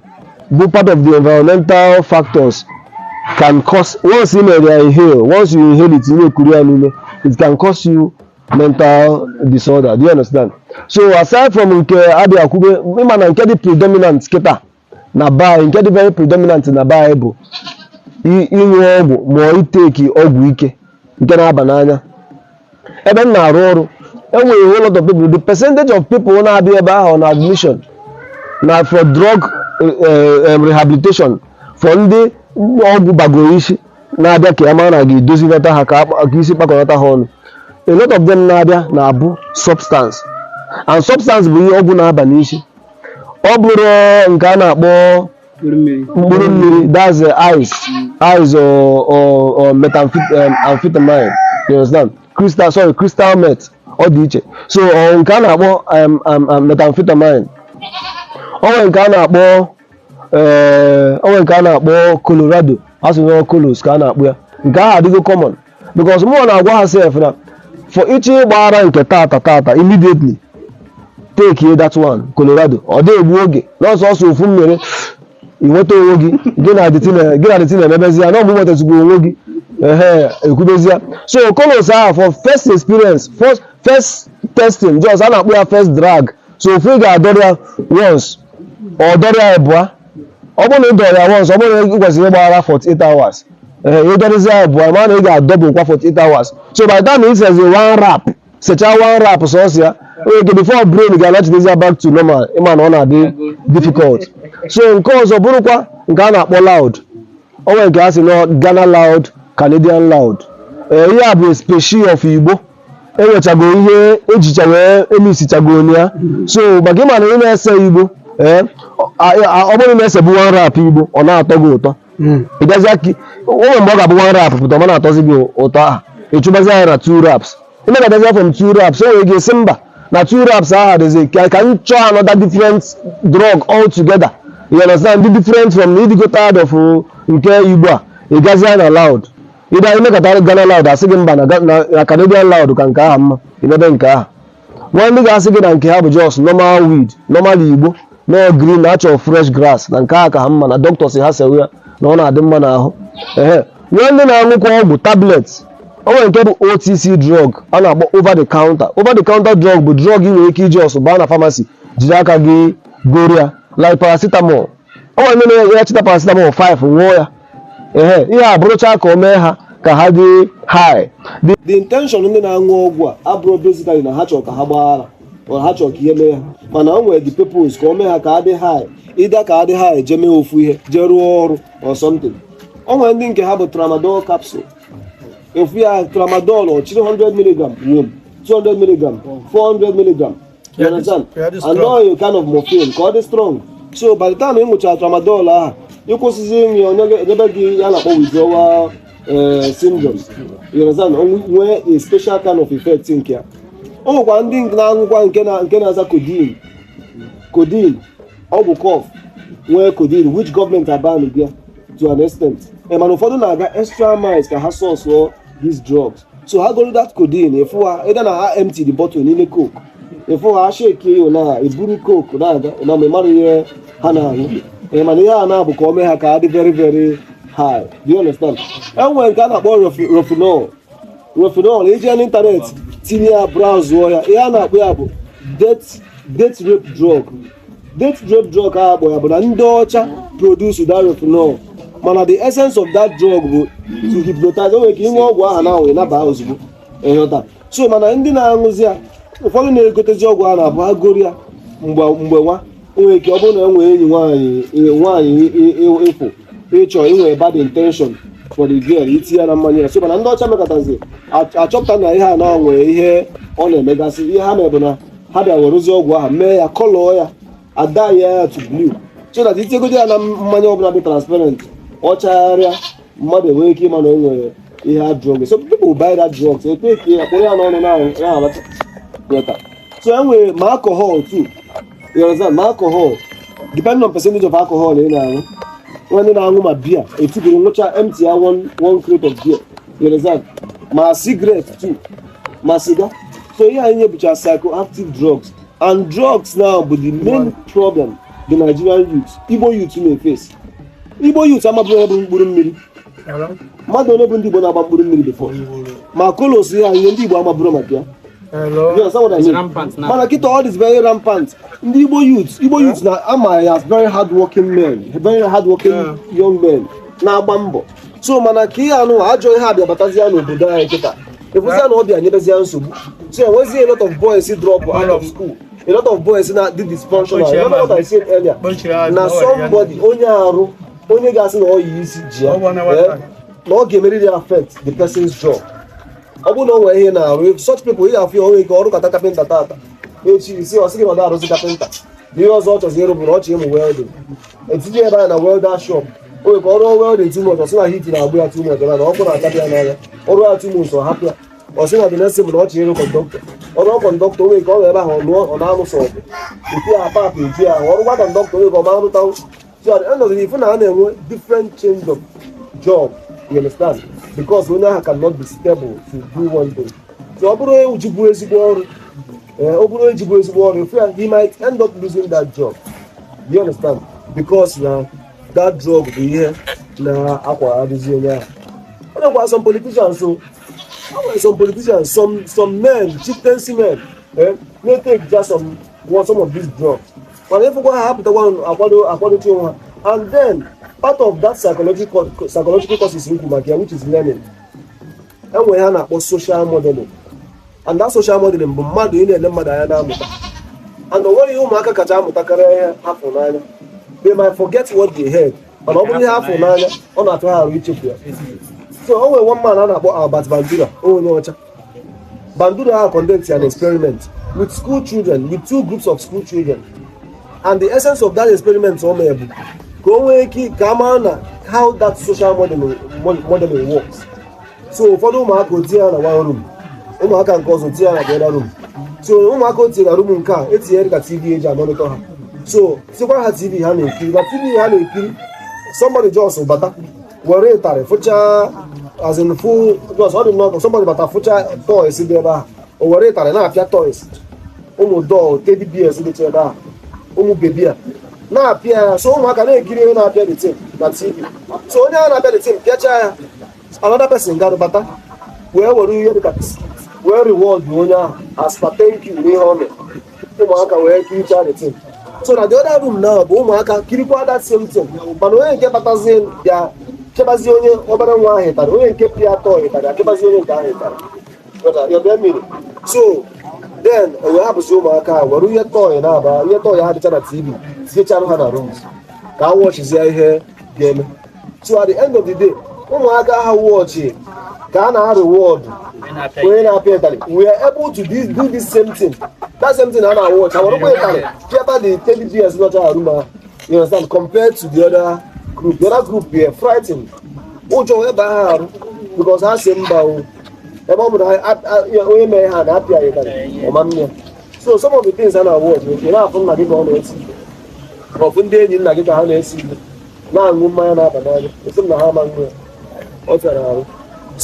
bụ part of the environmental factors can cause once you mere ya inhale once you inhale it you na-ekuru ya n'ume it can cause you mental disorder do you understand so aside from nke a bịa kwube ịma na nke dị predominant kịta na be anyị nke dị very predominant na be anyị bụ i- ịṅụ ọgwụ ma ọ iteki ọgwụ ike nke na-aba n'anya ebe m na-arụ ọrụ enwere whole lot of people the percentage of people na-abịa ebe ahụ na admission na for drug eh, eh, em, rehabilitation for ndị ọgwụ bagoro isi na-abịa ka ya mara na ga-edozilata ha ka akpa- ka isi kpakọrọta ha ọnụ a lot of them na-abịa na-abụ substance and substance bụ ihe ọgwụ na-aba n'isi ọ bụrụ nke a na-akpọ mkpụrụ mmiri that's uh, ice ice or, or, or methamphetamine um, you understand crystal sorry crystal meth ọ dị iche so ọ nke a na-akpọ um, um, um, methamphetamine ọ nwere nke a na-akpọ eh, ọ nwere nke a na-akpọ colorado a sị na colos ka a na-akpọ ya nke ahụ adịgo common because mụ na-agwa ha sef na for ị chọọ ịgba ara nke tata tata immediately takie that one Colorado ọ da egbu oge n'ọsọ ọsọ ofu mmiri ị nweta onwe gị gị na adịtị na- gị na adịtị na-emebezi ya na ọ bụ nwetazigbo onwe gị ehe ekwubezi ya so colos ahụ for first experience first, first testing just a na-akpọ ya first drag so ofu ị ga-adọrọ ya once ọ dọrọ ya abụọ ọ bụrụ na ị dọrọ ya once ọ bụrụ na ị kwesịrị ịgba ara 48 hours ee ị dọrịzi ya abụọ ma na ị ga-adọbụ kwa 48 hours so by the time ị sezi one wrap secha one wrap sọsọ ya onye nke before brain ga-anachitezi ya back to normal ịma na ọ na-adị difficult so nke ọzọ bụrụkwa nke a na-akpọ loud o nwere nke a sị na Ghana loud Canadian loud ee ihe a bụ a species of igbo enwechago ihe ejicha wee emixichago onye ya so maka ịma na ị na-ese igbo ee ọ bụrụ na esebu one wrap igbo ọ na-atọ gị ụtọ ị bịazịa ka o nwee mgbe ọ ga-abụ one wrap pụta ọ ma na-atọzi gị ụtọ aha ịchụbazi anya na two wraps ị na abịazịa from two wraps o nwere gị asị mba na two wraps aha dịzi ka ka m chọọ another different drug all together you understand dị different from na ịdịgo tired of nke igbo a ị gazịa na loud ịbịa anyị mekọtara Ghana Loud asị gị mba na Ga- na- na Canadian Loud ka nke aha mma i mebe nke aha nwee ndị ga-asị gị na nke ha bụ just normal weed normal igbo no green natural fresh grass na nke aha ka ha mma na dọkịta sị ha sewe ya na ọ na-adị mma n'ahụ ehe nwee ndị na-aṅụkwa ọgwụ tablet o nwere nke bụ otc drug a na-akpọ over the counter over the counter drug bụ drug ị nwere ike iji ọsọ baa na pharmacy jiri aka gị goro ya like paracetamol o nwere ndị na-enye ya chịta paracetamol 5 ṅụọ ya ehe ihe a bụrụcha ka o mee ha ka ha dị high the the intention ndị na-aṅụ ọgwụ a abụrọ basically na ha chọrọ ka ha gbaa ara or ha chọrọ ka ihe mee ha mana o nwere the purpose ka o mee ha ka ha dị high either ka ha dị high jee mee ofu ihe jee rụọ ọrụ or something o nwere ndị nke ha bụ tramadol capsule ofu ya tramadol ọ chịrị 100 mg wom 200 mg 400 mg you understand and now you kind of morphine ka ọ dị strong so by the time ị ṅụchara tramadol ahụ ị kwụsịzie ịṅụ ya onye ga- enyebe gị ihe a na-akpọ withdrawal eh, syndrome you understand O nwe- nwee a special kind of effect nke ya o nwekwara ndị na-aṅụkwa nke na- nke na-aza codeine codeine ọgwụ cough nwee codeine which gọọmenti abanbu ya to an extent Eh, mana ụfọdụ na-aga extra miles ka ha source for these drugs so ha goro that codeine ị fụ ha either na ha empty the bottle n'ime coke ị fụ ha shake ya na-eburu coke na-aga na ị ma mara ihe ha na-aṅụ ee mana ihe a na-abụ ka o mee ha ka ha dị very very high do you understand e nwere nke a na-akpọ Rohypnol Rohypnol i jee n'ịntanetị tinye ya braụzụọ ya ihe a na-akpọ ya bụ date date rape drug Date rape drug a akpọ ya bụ na ndị ọcha produce the Rohypnol mana the essence of that drug bụ to hypnotize o nwe ka inwe ọgwụ aha na ahụ ị naba ozugbo ịghọta so mana ndị na-aṅụzi ya ụfọdụ na-egotezi ọgwụ a na-abụ e goro ya mgbe mgbe nwa nwere ike ọ bụrụ na e nwere enyi nwaanyị nwaanyị ị fụ ị chọ inwe bad intention for the girl i ti ya na mmanya ya so mana ndị ọcha mekatazi achọpụta na ihe a nwa nwere ihe ọ na-emegasị ihe ha mebụ na ha bịa werezie ọgwụ ahụ mee ya colour ya a dye ya to blue so that i tigodi ya na mmanya ọbụla dị transparent ọ chagharịa mmadụ enwee ike ịma na o nwere ihe a drug so people buy that drug so e breakie ya kpụrụ ya n'ọnụ na-alacha ịghọta so e nwere ma alcohol too you understand ma alcohol depending on percentage of alcohol ị na-aṅụ e nwee ndị na-aṅụ ma beer etigoro ṅụcha empty ya one one crate of beer You understand, ma cigarette too, ma cigar. So ihe a niile bụcha psychoactive drugs and drugs now bụ the main problem the Nigerian youth, Igbo youth na-face. Igbo youth amabughị ihe bụ mkpụrụ mmiri. Mmadụ ole bụ ndị Igbo na-agba mkpụrụ mmiri before? Ma colos ya ihe ndị Igbo a mabụrụ maka ya. mana kịta ọ dịzi very rampant ndị igbo youth igbo youth na a ma ya as very hard working men very hard working young men na-agba mbọ so mana ka ihe a nwa ajọ ihe a bịa batazia n'obodo anyị kịta ị fụzia na ọ bịa nyebezia nsogbu so e nwezie a lot of boys drop out of school a lot of boys na-adị dysfunctional remember what I said earlier na somebody onye arụ onye ga-asị na ọya isi ji ya eh, na ọ ga-emerịrị affect the person's job ọ bụrụ na o nwere ihe ọ na-arụ such people ị ga-afụ ya o nwee ike ọ rụkata carpenter taata echi isi ọ sị gị na ọ na-arụzi carpenter ihe ọzọ ọ chọzi ịrụ bụ na ọ chọ ịmụ welding e tinye ya na welder shop o nwere ka ọ rụọ welding two months ọ sị na heat na-egbu ya too much na na ọkụ na-atabi ya n'anya ọ rụọ ya two months ọ hapụ ya ọ sị na the next time na ọ chọrọ ịrụ conductor ọ rụọ conductor o nwere ka ọ nọ ebe ahụ ọ lụọ ọ na-anụ sọ ọgụ e tie ya apa eju ya ahụ ọrụ gwa conductor o nwere ka ọ ma anụtanwụ so at the end of the day ị fụ na a na-enwe different change of job you understand because onye ahụ cannot be stable to do one thing so ọ bụrụ o jibu ezigbo ọrụ ee ọ bụrụ o jibu ezigbo ọrụ ị fụ ya he might end up losing that job you understand because na that drug bụ ihe na-akwagharịzi onye ahụ o nwekwa some politicians so o nwere some politicians some some men chieftaincy men eh, na-etake just some one some of these drugs mana ị fụkwa ha apụtakwa akwado akwadochi onwe ha and then part of that psychological psychological causes m kwu maka ya which is learning e nwere ihe a na-akpọ social modeling and that social modeling bụ mmadụ ị na-ele mmadụ anya na-amụta and o nwere ihe ụmụaka kacha amụtakarị ihe ha fụ n'anya they might forget what they heard mana ọ bụrụ ihe ha fụ n'anya ọ na-atụ ha arụ ichefu ya so o nwere one man a na-akpọ Albert Bandura onye ọcha Bandura a conduct an experiment with school children with two groups of school children and the essence of that experiment o mere bụ ka o nwee ike ka a mara na how that social modeling, mo- modeling works so ụfọdụ ụmụaka o tinye ha na one room ụmụaka nke ọzọ tinye ha na the other room so ụmụaka o tinye na room nke a e tinyere cctv e ji amonitor ha so tikwa ha tv ha na-ekiri na tv ha na-ekiri somebody just bata were ịtarị fụcha as in full just ọ dị nnọọ ka somebody bata fụcha toys dị ebe ahụ o were ịtarị na-apịa toys ụmụ doll teddy bears dịcha ebe ahụ ụmụ baby a na-apịa ya so ụmụaka na-ekiri onye na-apịa the thing na tv so onye a na-apịa the thing pịachaa ya another person gara bata wee were ihe dịka wee reward onye ahụ as per thank you n'ihe o mere ụmụaka wee kirichaa the thing so na the other room na bụ ụmụaka kirikwa that same thing mana onye nke batazie bịa kebazie onye obere nwa ahụ ịtarị onye nke pịa toy ịtarị akebazie onye nke ahụ ịtarị so then o wee hapụzi ụmụaka a were ihe toy na-aba ihe toy ha dịcha na tv tinyechara ha na rooms ka a watchizie ihe ga-eme so at the end of the day ụmụaka ha watchị ka a na-areward onye na-apịa ịtarị were able to do do this same thing that same thing ha na-awatch ha werekwa ịtarị pịata the teddy bears nọcha na room ha you understand compared to the other group the other group were frightened ụjọ wee baa ha arụ because ha sị mba o ebe ọ bụrụ onye mere ha na-apịa ya ịtarị ọ ma mme ya so some of the things a na-awụ ọdụ oke na-afụ nna gị ka ọ na-ese ị fụ ndị enyi nna gị ka ha na-ese ihe na-aṅụ mmanya na-aba n'anya a sị na ha ama nṅụ ya ọ fịara arụ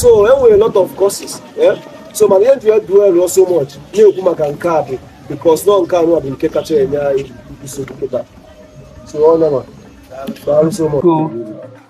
so e nwere lot of causes eh? so mana ihe m ji a-dwell so much na-ekwu maka nke a bụ because na ọ nke anụwa bụ nke kacha enye anyị nsogbu kịta so ọ nama daalụ so much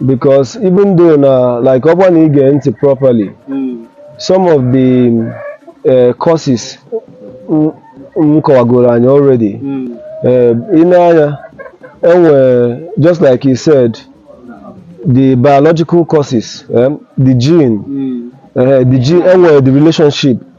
because even though na like ọ bụrụ na ị gee ntị properly some of the uh, causes m- m kọwagoro anyị already Eh, ị nee anya enwe just like he said the biological causes um, the gene eh, the gene enwere the relationship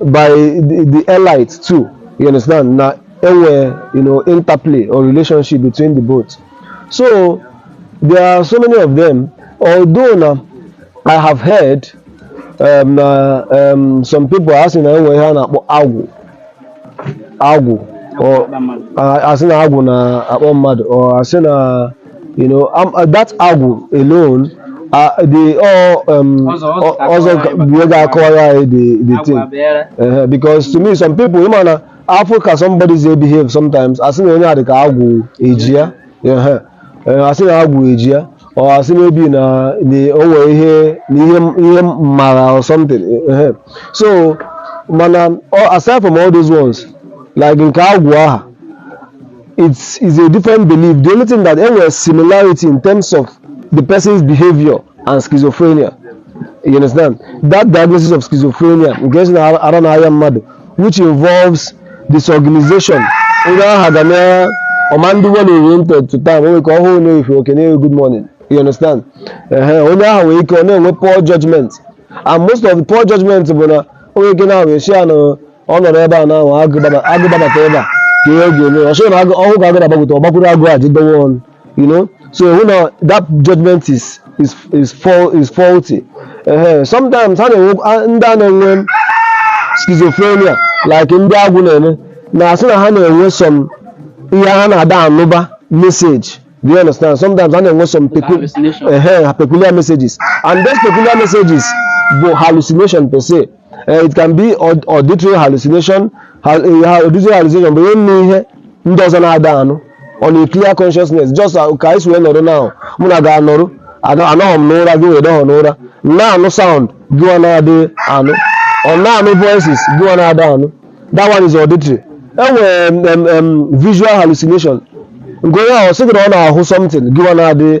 by the, the elite too. You understand? na e nwere, you know, interplay or relationship between the both. So, there are so many of them. Although na I have heard um, uh, um, some people asị na enwe ihe a na-akpọ agwụ agwụ or- a- asị na agwụ na-akpọ mmadụ or asị na You know, I'm, uh, that agwụ alone, uh, the all um, Ọzọ- ọzọ ga also akọwara anyị ọ ga-akọwa the the agwụ thing bịara. uh, because to me some people you ma na-afụ ka somebody si a-behave sometimes a sị onye a dị ka agwụ ejie ya uh, a sị na agwụ ejie ya or a sị maybe na the o nwe ihe na ihe ihe mara or something uh, so mana all- aside from all those ones like nke agwụ aha It's, it's a different belief. The only thing that there was similarity in terms of the person's behavior and schizophrenia. You understand? That diagnosis of schizophrenia, a ga-asị na ọ na-arịa mmadụ, which involves disorganization. Onye aha ga na ọ ma ndị well oriented to time, o nwe ike ọ hụ m n'efifie o kene m good morning. You understand? Ehe, onye aha nwere ike ọ na-enwe poor judgment. And most of the poor judgment bụ na o nwe ike na-ahụ a sị ya na ọ nọ n'ebe a na ọ bụrụ agụ gbaba- agụ gbabata ebe a kee ihe ọ ga-eme ọ sị gị na agụ ọ hụ ka agụ na-agbagota ọ gbakwuru agụ a jido ya ọnụ you know so ị hụ na that judgment is is is faul- is faulty ehe sometimes ha na-enwe a- ndị a na-enwe schizophrenia like ndị agwụ na-eme na-asị na ha na-enwe some ihe ha na-ada anụba message do you understand sometimes ha na-enwe some pecu- Hallucination. ehe, peculiar messages and those peculiar messages bụ hallucination per se Eh, it can be aud- auditory hallucination Ha- eh, ha- auditory hallucination bụ ihe ịnụ ihe ndị ọzọ na-ada anụ on a clear consciousness just uh, ka anyị si wee nọrọ now mụ na gị anọrọ Anọ- anọghọ m n'ụra gịwa anọghọ n'ụra m na-anụ sound gịwa na-ada anụ or na-anụ voices gịwa na-ada anụ that one is auditory enwere em, em, em, visual hallucination nke onye ahụ sị gị na ọ na-ahụ something gịwa na-ada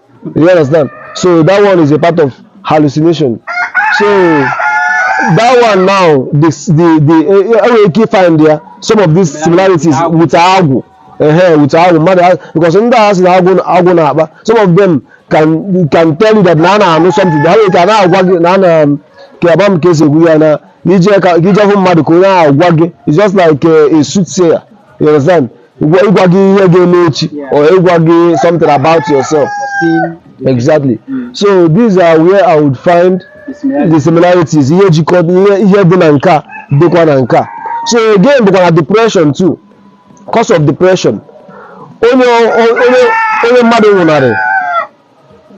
You understand? So that one is a part of hallucination. So that one now, the the the uh, uh, we can find there some of these similarities with agwụ. Ehe, with agwụ mmadụ a- because ndị a sị na agwụ agwụ na-akpa some of them can can tell you that na ha na-anụ something ha nwere ka a na-agwa gị na a na ka agba m ka esi ekwu ya na ije ka ka ije hụ mmadụ ka onye ahụ gwa gị it's just like a, a soothsayer you understand Ịgwa ịgwa gị ihe ga-eme echi Yeah. or ịgwa gị something about yourself. Foreseen Exactly. Mm. So these are where I would find the similarity. the similarities ihe jikọ ihe ihe dị na nke a dịkwa na nke a so again bụkwa na depression too cause of depression onye onye onye mmadụ nwụnarị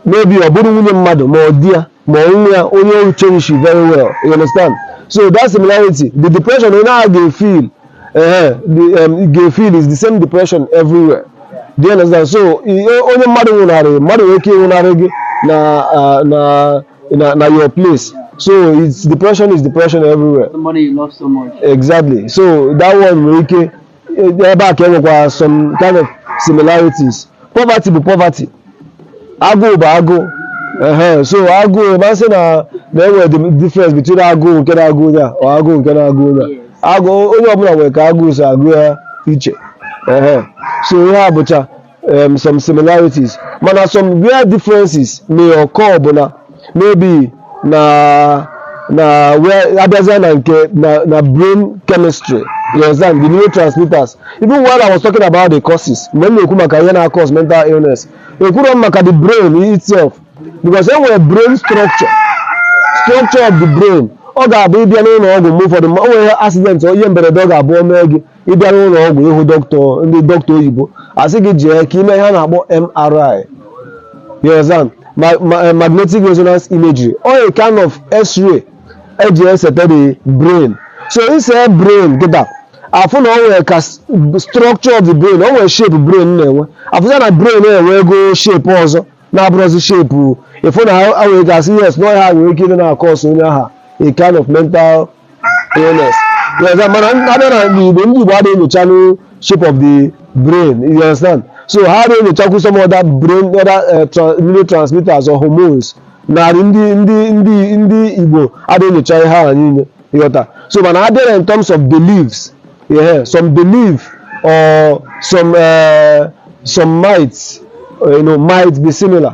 maybe ọ bụrụ nwunye mmadụ ma ọ di ya ma ọ nwa ya onye o cherishiri very well you understand so that similarity the depression onye ahụ ga-efeel ehe the um, ga-efeel is the same depression everywhere do you understand so i- o- onye mmadụ nwụnarị mmadụ nwere ike ịnwụnarị gị na ah, na na na your place so it's depression is depression everywhere Somebody you love so much. exactly so that one nwere ike ebe a ka e nwekwara some kind of similarities poverty bụ poverty agụụ bụ agụụ ehe so agụụ a ma-asị na na e nwere the difference between agụụ nke na-agụ onye a or agụụ nke na-agụ onye a agụụ onye ọbụla nwere ka agụụ si agụ ya iche ehe so ihe a bụcha um, some similarities mana some where differences may occur bụ na maybe na na where abịazịa na nke na na brain chemistry you understand the neurotransmitters even while i was talking about the causes mgbe m na-ekwu maka ihe na-cause mental illness ekwuru m maka the brain itself because e nwere brain structure structure of the brain ọ ga-abụ ị bịa n'ụlọ ọgwụ mgbe ụfọdụ ma o nwere accident ihe mberede ọ ga-abụ o mee gị ị bịa n'ụlọ ọgwụ ịhụ dọkịta ndị dọkịta oyibo asị gị jee ka ime ihe a na-akpọ MRI you understand? Ma- ma- eh, magnetic resonance imagery or a kind of x-ray eji eseta the brain so i see brain kịta a fụ na o nwere ka s- structure of the brain o nwere shape brain na-enwe a fụzịa na brain a enwego shape ọzọ na-abụrọzi shape ị fụ na ha nwere ike ịsị yes na ọ ihe a nwere ike ịdị na-acause onye ahụ a kind of mental illness you understand mana abịa na ndị igbo ndị igbo adịghị enyochanụ shape of the brain you understand so ha adịghị enyochakwu some other brain other uh, tra neurotransmitters or hormones n'arụ ndị ndị ndị ndị igbo adịghị enyocha ihe ahụ niile ị ghọta so mana abịa na in terms of beliefs yeah, some belief or some uh, some might uh, you know might be similar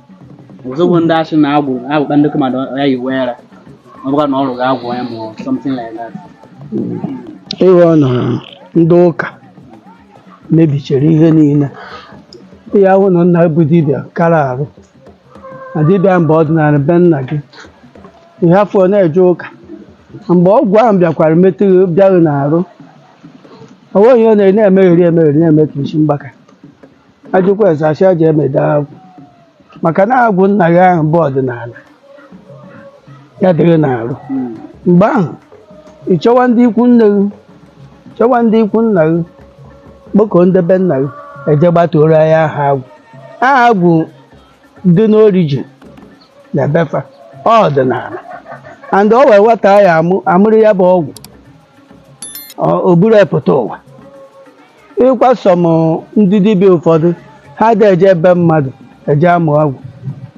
ọzọ bụ ndị a sị na agwụ agwụ akpa ndị mmadụ ya yi wee ra ọ bụkwa na ọrụ ga-agwụ ya ma ọ something like that ị hụ na ndị ụka mebichere ihe niile ị ya-ahụ na nna bụ dibịa kara arụ na dibịa mgbe ọdịnala be nna gị ị hafụ na-eje ụka mgbe agwụ ahụ bịakwara metụ gị bịa gị n'arụ o nweghị ihe ọ na-eri na-emegheri emegheri na-eme ka isi mgbaka a jụkwa ese a sị e jee meda agwụ maka na agwụ nna gị ahụ bụ ọdịnala ya dị gị n'arụ mgbe ahụ ị chọwa ndị ikwu nne gị chọwa ndị ikwu nna gị kpọkọọ ndị be nna gị e jee gbatuoro ya aha agwụ aha agwụ dị n'origin na be fa ọ ọdịnala and o nwee nwata ya amụ amụrụ ya bụ agwụ ọ- o buru ya pụta ụwa ịkwa some ndị dibịa ụfọdụ ha adị eje be mmadụ eje amụ ọgwụ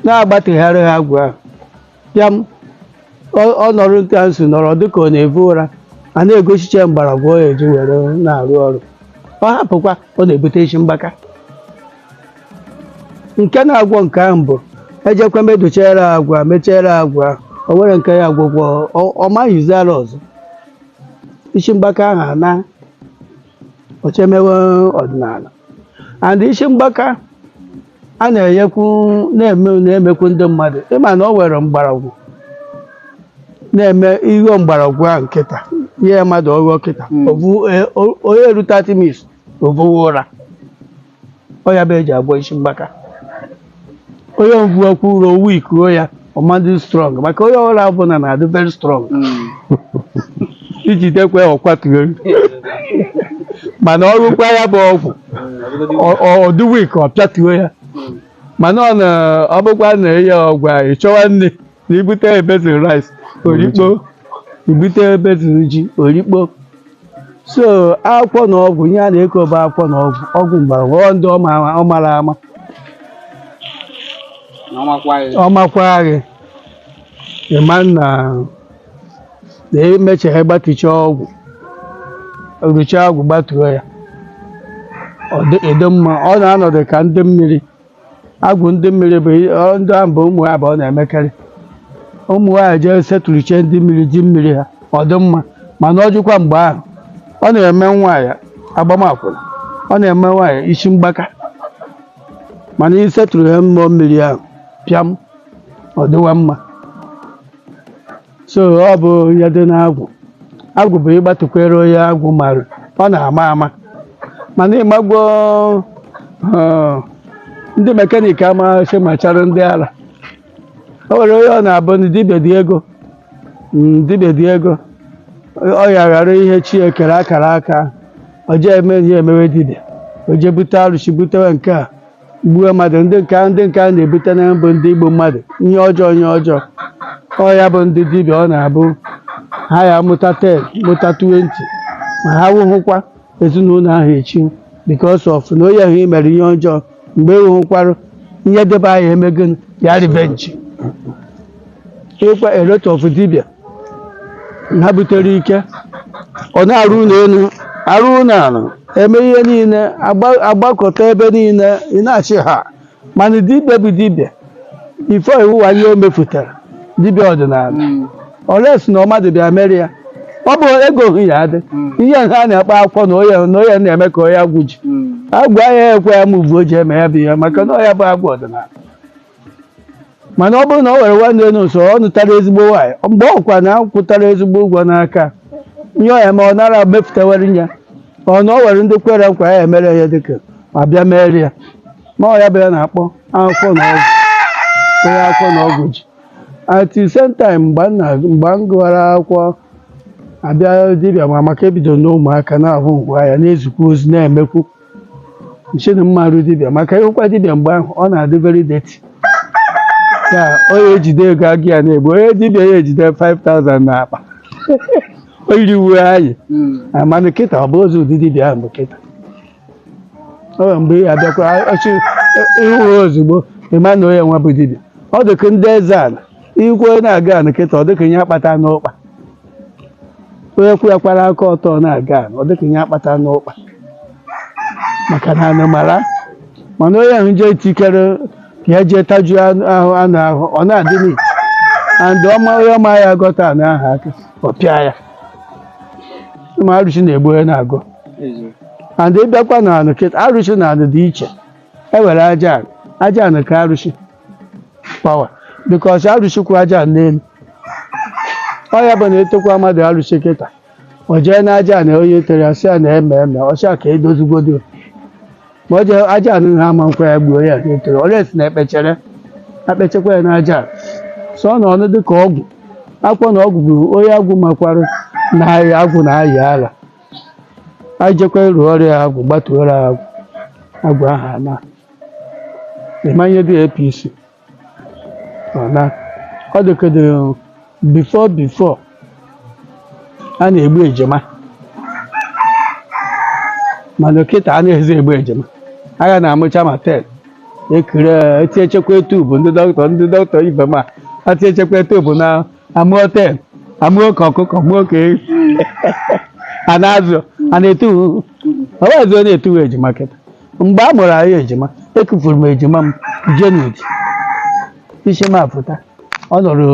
na a gbatuchara ha agwụ ahụ ya m- ọ- ọ nọrọ nke a nso nọrọ dịka ọ na-evu ụra a na-egosicha ya mgbọrọgwụ o ji were na-arụ ọrụ ọ hapụkwa ọ na-ebute isi mgbaka nke na-agwọ nke ahụ bụ e jekwa medochara agwụ mechere agwụ o nwere nke ya agwụ gwọ ọ- ọ maghịzi ara ọzọ isi mgbaka ahụ anaa o jee mewe ọdịnala and isi mgbaka a na-enyekwu na-eme na-emekwu ndị mmadụ ịma na o nwere mgbọrọgwụ na-eme i ghuo mgbọrọgwụ ahụ kịta nye mmadụ ọ ṅụọ kịta Mm. ovu- e- o- ọ ya-eru 30 minutes o vuwe ụra ọ ya bụ e ji agwọ isi mgbaka onye ahụ vuokwa ụra o weakuo ya ọ ma-adị strong maka onye ara ọbụla na-adị very strong i jidekwe ọ kwatuo mana ọ rụkwa ya bụ ọgwụ ọ- ọ- ọ dị weak ọ pịatuo ya mana ọ na ọ bụkwa na enye ọgwụ a, ị chọwa nne na i bute basin rice o rikpoo i bute basin ji o rikpoo so akwụkwọ na ọgwụ ihe a na-ekwu bụ akwụkwọ na ọgwụ ọgwụ mgbọrọgwụ ọ ndị ọ ma- ọ mara ama ọ makwa gị ịma na na emechara gbatucha agwụ rucha agwụ gbatuo ya ọ dị ịdị mma ọ na-anọdụ ka ndị mmiri agwụ ndị mmiri bụ i- ọ- ndị ahụ bụ ụmụ nwaanyị bụ ọ na-emekarị ụmụ nwaanyị jee settlechie ndị mmiri ji mmiri ha ọ dị mma mana ọ jụkwa mgbe ahụ ọ na-eme nwaanyị agbama akwụna ọ na-eme nwaanyị isi mgbaka mana i settlerụ ya mmụọ mmiri ahụ pịam ọ dịwa mma so ọ bụ ihe dị n'agwụ agwụ bụ ịgbatukwere onye agwụ mara ọ na-ama ama mana ịmagwo eh, ndị mekaniki amaghị machara ndị ala o nwere onye ọ na-abụ na dibịa dị ego mm, dibịa dị ego ọ ya ghara ihe chi e kere akara aka ọ jee eme ihe emewe dibịa o jee bute arụsị butewe nke a gbuo mmadụ ndị nke a ndị nke a na-ebute na bụ ndị igbu mmadụ ihe ọjọọ ihe ọjọọ ọ ya bụ ndị dibịa ọ na-abụ ha ya mụta 10 mụta 20 ma ha nwụhụkwa ezinụlọ ahụ echi because of na onye ahụ i mere ihe ọjọọ mgbe e nwụhụkwara ihe dibịa ahụ emego ya revenge ịkwa a lot of dibịa ha butere ike ọ na-arụ ụlọ elu arụ ụlọ ala eme ihe niile agba- agbakọta ebe niile ị na-achị ha mana dibịa bụ dibịa ife iwuwa ihe o mefutara dibịa ọdịnala unless na ọ mmadụ bịa mere ya ọ bụ ego hụ ya adị ihe ha na-akpa akwụkwọ na onye na onye na-eme ka onye agwụ ji agwa ya ekwe ya ma ugbo ji eme ya bụ ihe maka na ọ ya bụ agwụ ọdịnala mana ọ bụrụ na o nwere nwanne elu nso ọ nụtara ezigbo nwaanyị mgbe ọ kwa na akwụtara ezigbo ụgwọ n'aka ihe ọ ya ma ọ nara mefutawere ya ọ na o nwere ndị kwere nkwa ya emere ya dịka ma bịa mere ya ma ọ ya bụ ya na-akpọ akwụkwọ na ọgwụ onye akwụkwọ na ọgwụ ji at the same time mgbe m na- mgbe m gụwara akwụkwọ abịa dibịa ma maka ebido n'ụmụaka na-ahụ ngwa ya na-ezikwa ozi na-emekwu sị na m ma arụ dibịa maka ịhụkwa dibịa mgbe ahụ ọ na-adị very dirty ya onye ejide ego agụ ya na-egbu onye dibịa ya ejide 5000 n'akpa o yiri uwe anyị na mana kịta ọ bụzi ụdị dibịa ahụ bụ kịta o nwere mgbe ya bịakwa ọchị ịhụ ya ozugbo ịma na onye nwa bụ dibịa ọ dịka ndị eze ala ikwu onye na-aga ala kịta ọ dịka ihe akpata n'ụkpa onye kwụ ya kwara aka ọtọ na-aga ọ dịka ihe akpata n'ụkpa maka na anụ mara mana onye ahụ jee take care ka ya jee tajuo anụ ahụ anụ ahụ ọ na-adị neat and ọma onye ọma ya agọta anụ ahụ aka ọ pịa ya ma arụsị na-egbu onye na-agọ and ịbịakwa na anụ kịta arụsị na anụ dị iche e nwere aja anụ aja anụ ka arụsị power because arụsị kwụ aja n'elu ọ ya bụ na etekwa mmadụ arụsị kịta o jee na aja na onye tere ya sị ya na eme eme ọcha ka edozigodi ma o jee aja anụ ha ama nkwa ya gbuo ya na etere unless na ekpechere akpechekwa ya na aja so ọ na ọnụ dị ka ọgwụ akwụkwọ na ọgwụ bụ onye agwụ makwara na agwụ na-ayị ala a jekwa rụọrọ ya agwụ gbatuoro agwụ agwụ ahụ ana ịma ihe dị APC ọ na ọ dịkọdị before before a na-egbu ejima mana kịta anazi egbu ejima agha na-amụcha ma 10 ekire etiechekwa tube ndị dọkịta ndị dọkịta ibe m atiechekwa tube na amụọ 10 amụọ ka ọkụkọ mụọ ka ehi a na-azụ a na-etu ọwazi ọ na-etuwe ejima kịta mgbe a mụrụ anyị ejima ekufuru m ejima m January isi m apụta ọ nọrọ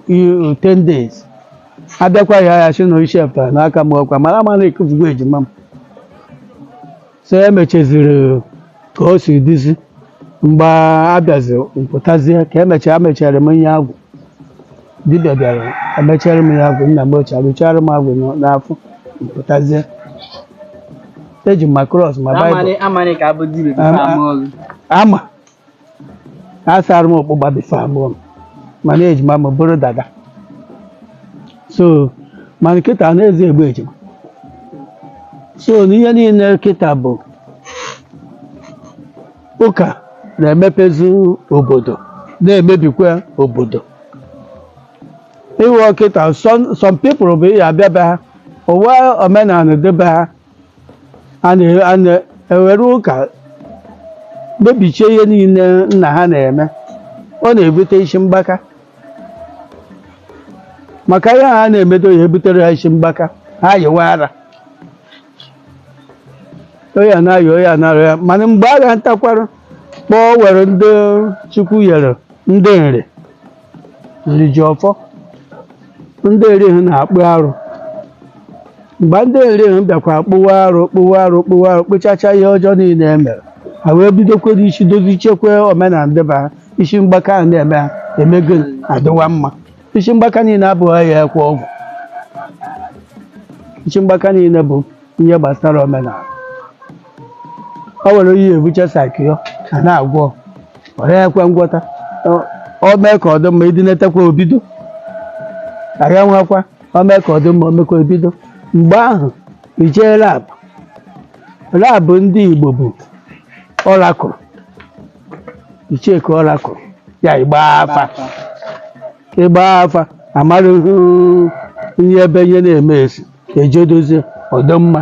i- 10 days abịakwa ya ya sị na isi apụtara n'aka m ọkwa mara ama na ekufugo ejima m so e mechaziri ka o si dịzi mgbe abịazi mpụtazie ka emechara mechara m ihe agwụ dibịa bịara emechara m ya agwụ nna m ochie arụchara m agwụ n'afọ mpụtazie eji m ma cross ma Bible Amani amani ka abụ dibịa before Ama- ama ọlụ. ama asara m ọkpụgba before abụọ m mana ejima m bụrụ dada so mana kịta anazi egbu ejima so na ihe niile kịta bụ ụka na-emepezu obodo na-emebikwa obodo ịghọ kịta some some people bụ ya abịa be ha ụwa omenala ndị be ha a na- a na-ewere ụka mebichie ihe niile nna ha na-eme ọ na-ebute isi mgbaka maka ihe ha na-emedo ya ebutere ha isi mgbaka ha yiwe ara ọya na-ayọ ọya na-arọ ya mana mgbe a ga-ntakwara kpọọ were ndị Chukwu nyere ndị Nri Nri ji ọfọ ndị Nri na-akpụ arụ mgbe ndị Nri bịakwa kpụwa arụ kpụwa arụ kpụwa arụ kpụchacha ihe ọjọọ niile e mere ha wee bidokwa n'isi dozichekwa omenala ndị be ha isi mgbaka a na-eme ha emego adịwa mma isi mgbaka niile abụghị ya ekwe ọgwụ isi mgbaka niile bụ ihe gbasara omenala o nwere onye ebuche psycho a na-agwọ ọya ekwe ngwọta Ọ- o mee ka ọ dị mma idinetekwa o bido agha nwakwa o mee ka ọ dị mma o mekwa ebido mgbe ahụ i jee lab lab ndị Igbo bụ oracle i checkie oracle ya ịgba afa ịgba afa a mara ihe ebe ihe na-eme si e jee dozie ọ dị mma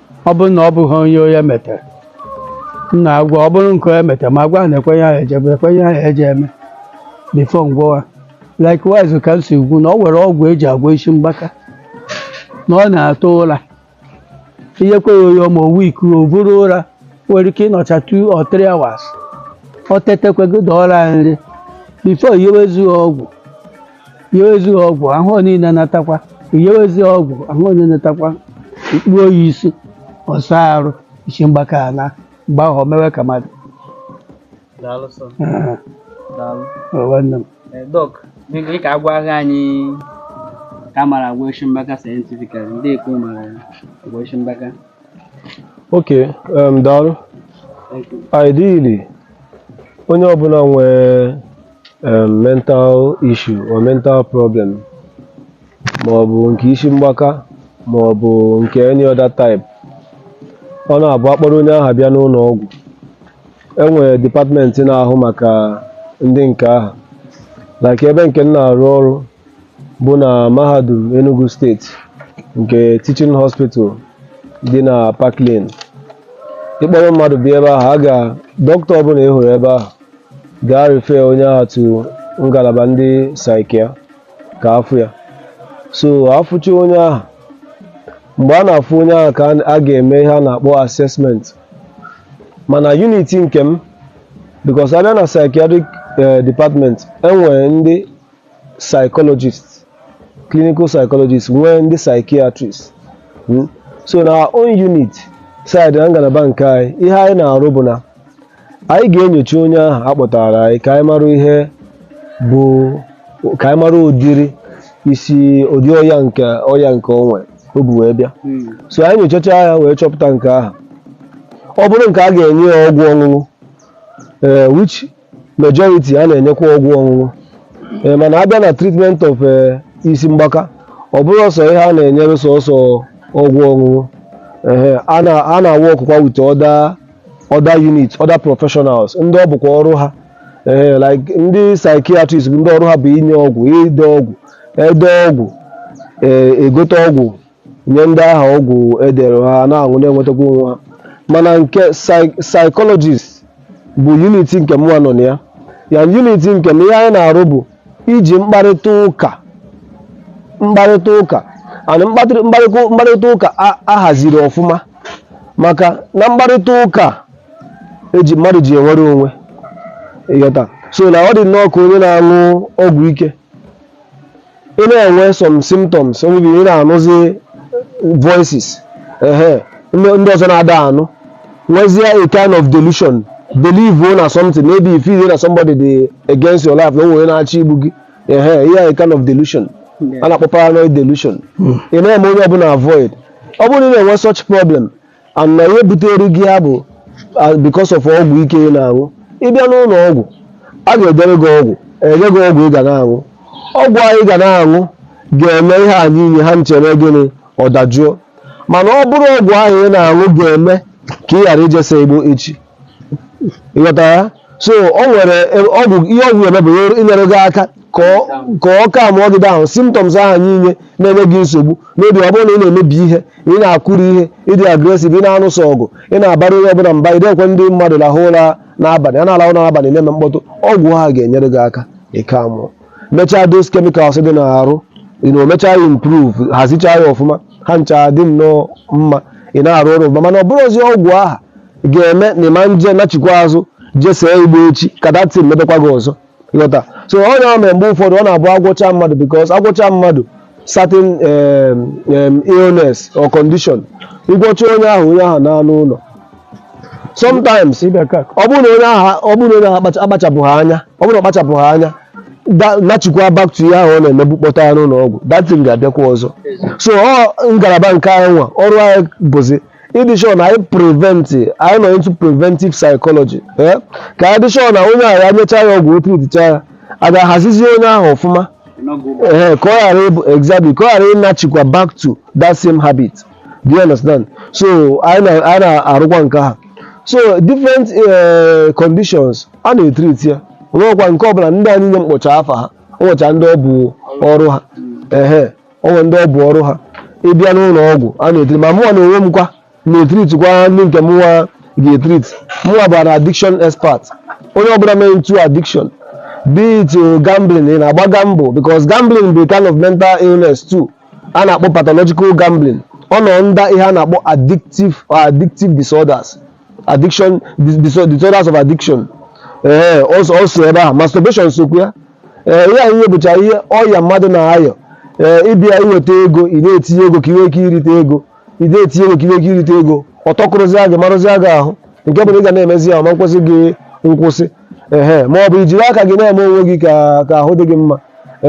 ọ bụrụ na ọ bụghị onye onye metere m na-agwọ ọ bụrụ nke onye metere ma gwa na ekwenye ahụ ejebe ekwenye ahụ eje eme before m gwọwa likewise ka m si kwuo na ọ nwere ọgwụ e ji agwọ isi mgbaka na ọ na-atụ ụra ihe kweghị oyo ma owu iku o buru ụra nwere ike ịnọcha 2 or 3 hours ọ tetekwe gị dọọrọ ya nri before i yewezie ọgwụ yewezi ha ọgwụ ahụ ọ niile natakwa yewezi ha ọgwụ ahụ onye natakwa ị kpụọ ya isi ọ saa arụ isi mgbaka alaa mgbe ahụ o mewe ka mmadụ Daalụ sọ. Ah, Daalụ. ọ nwanne m Eh, Dọk, ị ka agwaghị anyị ka a mara agwọ isi mgbaka scientifically ndị bekee mara agwọ isi mgbaka. Okay, um, daalụ. Thank you. Ideally, onye ọbụla nwee um mental issue or mental problem ma ọ bụ nke isi mgbaka ma ọ bụ nke any other type ọ na-abụ a kpọrọ onye ahụ bịa n'ụlọ ọgwụ e nwere department na-ahụ maka ndị nke ahụ like ebe nke m na-arụ ọrụ bụ na mahadum Enugu State nke teaching hospital dị na Park Lane ị kpọrọ mmadụ bịa ebe ahụ a ga dọkịta ọbụla ị hụrụ ebe ahụ ga-refer onye ahụ to ngalaba ndị psychia ka a fụ ya so a fụcha onye ahụ mgbe a na-afụ onye ahụ ka a ga-eme ihe a na-akpọ assessment mana unit nke m because a bịa na psychiatric eh, department e nwere ndị psychologist clinical psychologist nwee ndị psychiatrist Mm. so na our own unit side na ngalaba nke anyị ihe anyị na-arụ bụ na anyị ga-enyocha onye ahụ a kpọtara anyị ka anyị mara ihe bụ ka anyị mara ụdịrị isi ụdị ọya nke ọya nke o nwere o bu wee bịa Mm. so anyị nyochacha ya wee chọpụta nke ahụ ọ bụrụ nke a ga-enye ya ọgwụ ọṅụṅụ ee which majority a na-enyekwa ọgwụ ọṅụṅụ ee mana a bịa na treatment of eh, isi mgbaka ọ bụrọ sọ ihe a na-enyere sọsọ ọgwụ ọṅụṅụ ehe a na a na-awọkụkwa with other other units other professionals ndị ọ bụkwa ọrụ ha ee like ndị psychiatrist bụ ndị ọrụ ha bụ inye ọgwụ ide ọgwụ e dee ọgwụ ee e gote ọgwụ nye ndị ahụ ọgwụ e dere ha na-aṅụ na-enwetakwa onwe ha mana nke psychologist bụ unit nke mụnwa nọ na ya ya unit nke m ihe anyị na-arụ bụ iji mkparịta ụka mkparịta ụka and mkparịta mkparịta- mkparịta ụka a- ahaziri ọfụma maka na mkparịta ụka e ji mmadụ ji enwere onwe ị ghọta so na ọ dị nnọọ ka onye na-aṅụ ọgwụ ike ị na-enwe some symptoms maybe ị na-anụzi voices ehe ndị ndị ọzọ na-ada anụ nwezie a kind of delusion believe o na something maybe you feel na somebody dị against your life na o nwere na-achọ igbu gị ehe ihe a kind of delusion a na-akpọ paranoid delusion ị na-eme onye ọbụla avoid ọ bụrụ na ị na-enwe such problem and na ihe butere gị ya bụ ah, because of ọgwụ ike ị na-aṅụ ị bịa n'ụlọ ọgwụ a ga-edere gị ọgwụ enye gị ọgwụ ị ga na-aṅụ ọgwụ ahụ ị ga na-aṅụ ga-eme ihe a niile ha ncha eme gịnị ọ dajụọ mana ọ bụrọ ọgwụ ahụ ị na-aṅụ ga-eme ka ị ghara ije see igbo echi ị ghọta ya so o nwere ọgwụ ihe ọgwụ eme bụ inyere gị aka ka ọ- ka ọ calmụọ gị down symptoms ahụ niile na-enye gị nsogbu maybe ọ bụrụ na ị na-emebi ihe ị na-akụri ihe ị dị aggressive ị na-anụso ọgụ ị na-abara onye ọbụla mba ị da ekwe ndị mmadụ lahụ ụra n'abalị a na-alahụ ụra n'abalị na-eme mkpọtụ ọgwụ ahụ ga-enyere gị aka ị calmụọ mechaa those chemicals dị n'arụ you know, mechaa ya improve hazichaa ya ọfụma ha ncha dị nnọọ mma ị na-arụ ọrụ ọfụma mana ọ bụrọzi ọgwụ ahụ ga-eme na ị ma nje nachikwa azụ je see igbo echi ka that thing mebekwa gị ọzọ ị ghọta so ọ na-eme mgbe ụfọdụ ọ na-abụ a gwọcha mmadụ because a gwọcha mmadụ certain um, um, illness or condition ị gwọcha onye ahụ onye ahụ naa n'ụlọ sometimes ị bịa ka ọ bụrụ na onye ahụ ọ bụrụ na onye ahụ akpacha- akpachapụghị anya ọ bụrụ na ọ kpachapụghị anya da- nachikwa back to ihe ahụ ọ na-emebu kpọta ya n'ụlọ ọgwụ that thing ga-abịakwa ọzọ so ọ ngalaba nke anyị nwa ọrụ anyị bụzi ịdị sure na anyị prevent anyị nọ into preventive psychology eh? ka anyị dị sure na onye ahụ ya nyechaa ya ọgwụ ọ treatịcha ya a ga-ahazizi onye ahụ ọfụma ee ka ọ ghara ịbụ exactly ka ọ ghara ịnachikwa back to that same habit do you understand so anyị na- anyị na-arụkwa nke ha so different eh, conditions a na-etreat ya o nwekwa nke ọbụla ndị a niile m kpọcha afa ha o nwecha ndị ọ bụ ọrụ ha ehe o nwe ndị ọ bụ ọrụ ha ị bịa n'ụlọ ọgwụ a na-etreat ma mụnwa na onwe m kwa na-etreatkwa ndị nke mụnwa ga-etreat mụnwa bụ an addiction expert onye ọbụla mee into addiction be it uh, gambling ị na-agba gamble because gambling bụ a kind of mental illness too a na-akpọ pathological gambling ọ nọ under ihe a na-akpọ addictive or addictive disorders addiction dis- dis- disorders of addiction ee also also ebe ahụ masturbation sokwu ya ee ihe a niile bụcha ihe ọya mmadụ na-aya ee ị bịa i weta ego ị na-etinye ego ka ị nwee ike irite ego ide etinye nwekiri ego irite ego ọtọkụrụzi gị marụzi gị ahụ nke bụ na ị ga na-emezi ya ma nkwụsị gị nkwụsị ehe ma ọ bụ ijiri aka gị na-eme onwe gị ka ka ahụ dị gị mma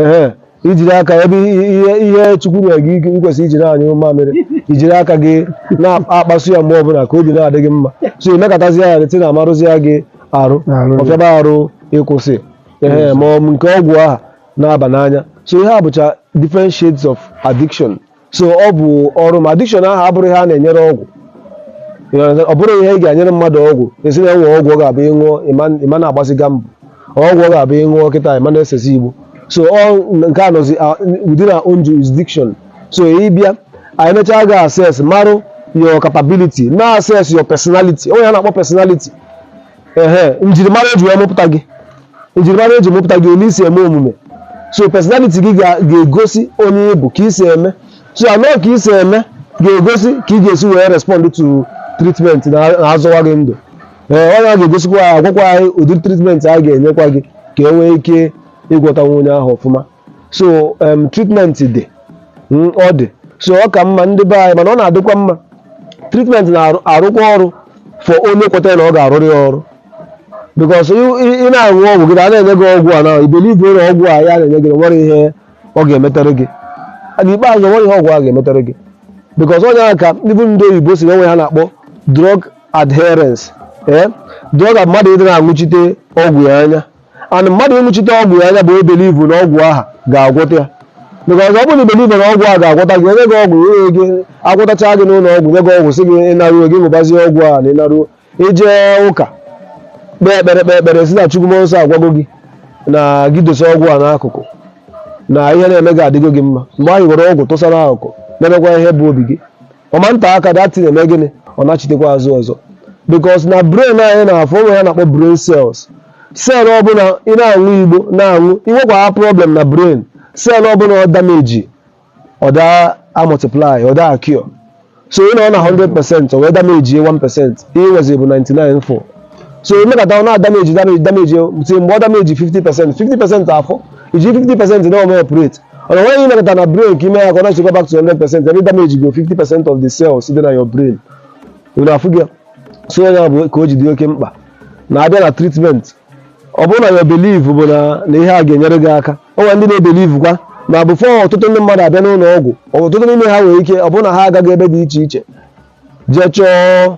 ehe ijiri aka ebe ihe ihe chukwu nyere gị ike ikwesị ijiri anyụ mamịrị ijiri aka gị na-akpasu ya mgbe ọbụla ka obi na-adị gị mma so emekatazi ya rute na amarụzi ya gị arụ ọ fịaba arụ ịkwụsị ehe ma ọ bụ nke ọgwụ aha na-aba n'anya so ihe a bụcha different shades of addiction so ọ bụ ọrụ ma addiction ahụ abụrụ ihe a na-enyere ọgwụ You understand? ọ bụrụ ihe ị ga-enyere mmadụ ọgwụ asị na e nwe ọgwụ ọ ga-abụ ịṅụọ ịma- ịma na-agbazi gamble ọgwụ ọ ga-abụ ịṅụọ kịta ịma na-esezi igbo so ọ nke a nọzi ah, within our own jurisdiction so ị bịa anyị mechaa ga assess marụ your capability na assess your personality o nwe ihe a na-akpọ personality ehe njirimara eji wee mụpụta gị njirimara eji mụpụta gị ole i si eme omume so personality gị ga- ga-egosi onye ị bụ ka i si eme so and ka i si eme ga-egosi ka ị ga-esi wee respond to treatment na na-azọwa gị ndụ ee ọ ga-egosikwa agwakwa anyị ụdị treatment a ga-enyekwa gị ka e nwee ike ịgwọtanwu onye ahụ ọfụma so um, treatment dị mm, ọ dị so ọ ka mma ndị be anyị mana ọ na-adịkwa mma treatment na-arụkwa ọrụ for onye kwetara na ọ ga-arụrụ ya ọrụ because ị na-aṅụ ọgwụ gị na a na-enye gị ọgwụ and i believe na ọgwụ a a na-enye gị na nwere ihe ọ ga-emetere gị and n'ikpeazụ nwere ihe ọgwụ a ga-emetere gị because onye ahụ ka ndị bụ ndị oyibo si e nwe ihe a na-akpọ drug adherence ee drug a mmadụ ịdị na-aṅụchite ọgwụ ya anya and mmadụ ịṅụchite ọgwụ ya anya bụ ibelieve na ọgwụ aha ga-agwọta ya because ọ bụrụ na i believe na ọgwụ a ga-agwọta gị enye gị ọgwụ enye gị agwọtacha gị n'ụlọ ọgwụ nye gị ọgwụ sị gị ị naruo gị ṅụbazie ọgwụ a na ị naruo i je ụka kpee ekpere kpee ekpere sị na chukwu mmụọ nsọ agwago gị na gị dosa ọgwụ a n'akụkụ na ihe na-eme gị adịgo gị mma mgbe anyị were ọgwụ tụsa n'akụkụ na-emekwa ihe bụ obi gị ọ ma nte aka that thing eme gịnị ọ nachitekwa azụ ọzọ because na brain anyị na-afụ o nwe ihe a na-akpọ brain cells Cell ọbụla ị na-aṅụ igbo na-aṅụ, i nwekwara problem na brain, cell ọbụla ọ damage, ọ da amultiply, ọ da acure. So ị nọ na 100 percent, o wee damage ye 1 percent, ihe i nwezi bụ 99 fọ. So emekata ọ na-adamage damage damage till mgbe ọ damage 50 percent, 50 percent afọ, iji 50 percent na-eme operate. Ọ na nweghị imekata na brain ka ime ya ka ọ nachikwa back to 100 percent, ebe damage go 50 percent of the cells dị na your brain. Unu afụgo ya? So ya bụ ka o ji dị oke mkpa. na-abịa na treatment ọ bụrụ na your belief bụ na na ihe a ga-enyere gị aka o nwere ndị na-ebelieve kwa na before ọtụtụ ndị mmadụ abịa n'ụlọ ọgwụ ọtụtụ n'ime ha nwere ike ọ bụrụ na ha agago ebe dị iche iche jee chọọ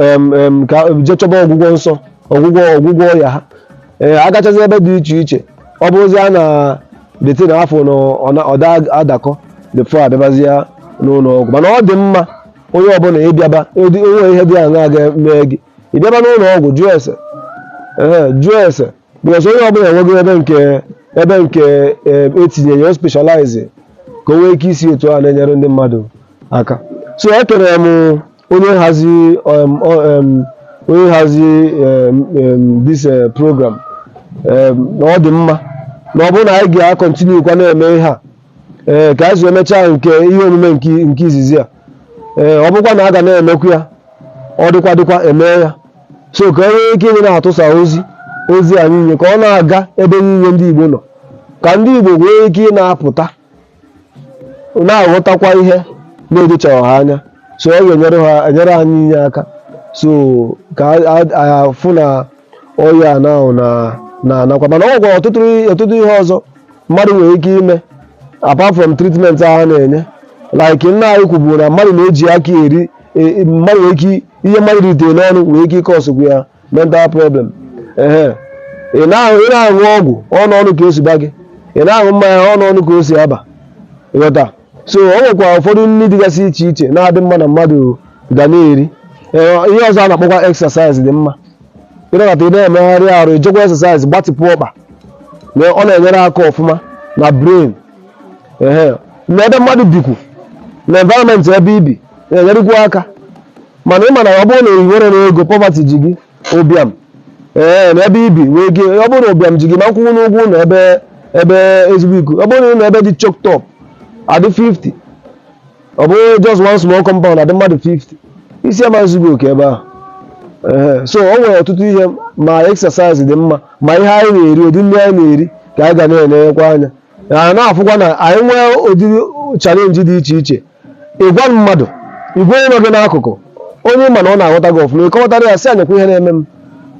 em, em, ka jee chọba ọgwụgwọ nsọ ọgwụgwọ ọgwụgwọ ọya ha ee agachazi ebe dị iche iche ọ bụrụzia na the thing a fụ na ọ na- ọ da adakọ before abịabazia n'ụlọ ọgwụ mana ọ dị mma onye ọbụla ịbịaba o nwee ihe dị aṅa ga-eme gị ị bịaba n'ụlọ ọgwụ jụọ ese ee jụọ ese because onye ọbụla enwego ebe nke ebe nke e tinyere ya specialize ka o nwee ike isi otu a na-enyere ndị mmadụ aka so ekene m onye nhazi onye nhazi this program na ọ dị mma na ọ bụrụ na anyị ga-akọntinu kwa na-eme ihe a ee ka anyị si emechaa nke ihe omume nke nke izizi a ee ọ bụkwa na a ga na-emekwu ya ọ dịkwa dịkwa eme ya so ka e nwee ike ịdị na-atụsa ozi ozi anyị nye ka ọ na-aga ebe niile ndị Igbo nọ ka ndị Igbo nwee ike ị na-apụta na-aghọtakwa ihe na-edochaghị ha anya so ọ ga-enyere ha enyere anyị niile aka so ka a- a- a- fụ na ọya na na-anakwa mana o nwekwara ọtụtụ ọtụtụ ihe ọzọ mmadụ nwere ike ime apart from treatment a ha na-enye like nna anyị kwuburu na mmadụ na-eji aka eri e- e- mmadụ nwere ike ihe mmadụ ritere n'ọnụ nwere ike ịkọsụkwu ya mental problem ehe ị na-aṅụ ị na-aṅụ ọgwụ ọnụ ọnụ ka o si aba gị ị na-aṅụ mmanya ọnụ ọnụ ka o si aba ị ghọta so o nwekwara ụfọdụ nri dịgasị iche iche na-adị mma na mmadụ ga na-eri Ee, ihe ọzọ a na-akpọkwa exercise dị mma ị nọkata ị na-emegharị arụ i jekwa exercise gbatịpụ ọkpa na ọ na-enyere aka ọfụma na brain ehe na ebe mmadụ bikwu na environment ebe i bi na-enyerekwu aka mana ị ma na ọ bụrụ na i nwerọ ego poverty ji gị ụbịam ee na ebe i bi wee gị ọ bụrụ na ụbịam ji gị ị ma nkwụnwu ụgwọ ụlọ ebe ebe ezigbo iku ọ bụrụ na ụlọ ebe dị choked up a dị 50 ọ bụrụ just one small compound a dị mmadụ 50 isi ama nzu gị oke ebe ahụ Ee, so o nwere ọtụtụ ihe ma exercise dị mma ma ihe anyị na-eri ụdị nri anyị na-eri ka anyị ga na-enekwa anya na na-afụkwa na anyị nwee ụdị challenge dị iche iche ị gwa mmadụ ị gwa onye nọ gị n'akụkụ onye ị ma na ọ na-aghọta gị ọfụma ị kọwatara ya sị ya nekwa ihe na-eme m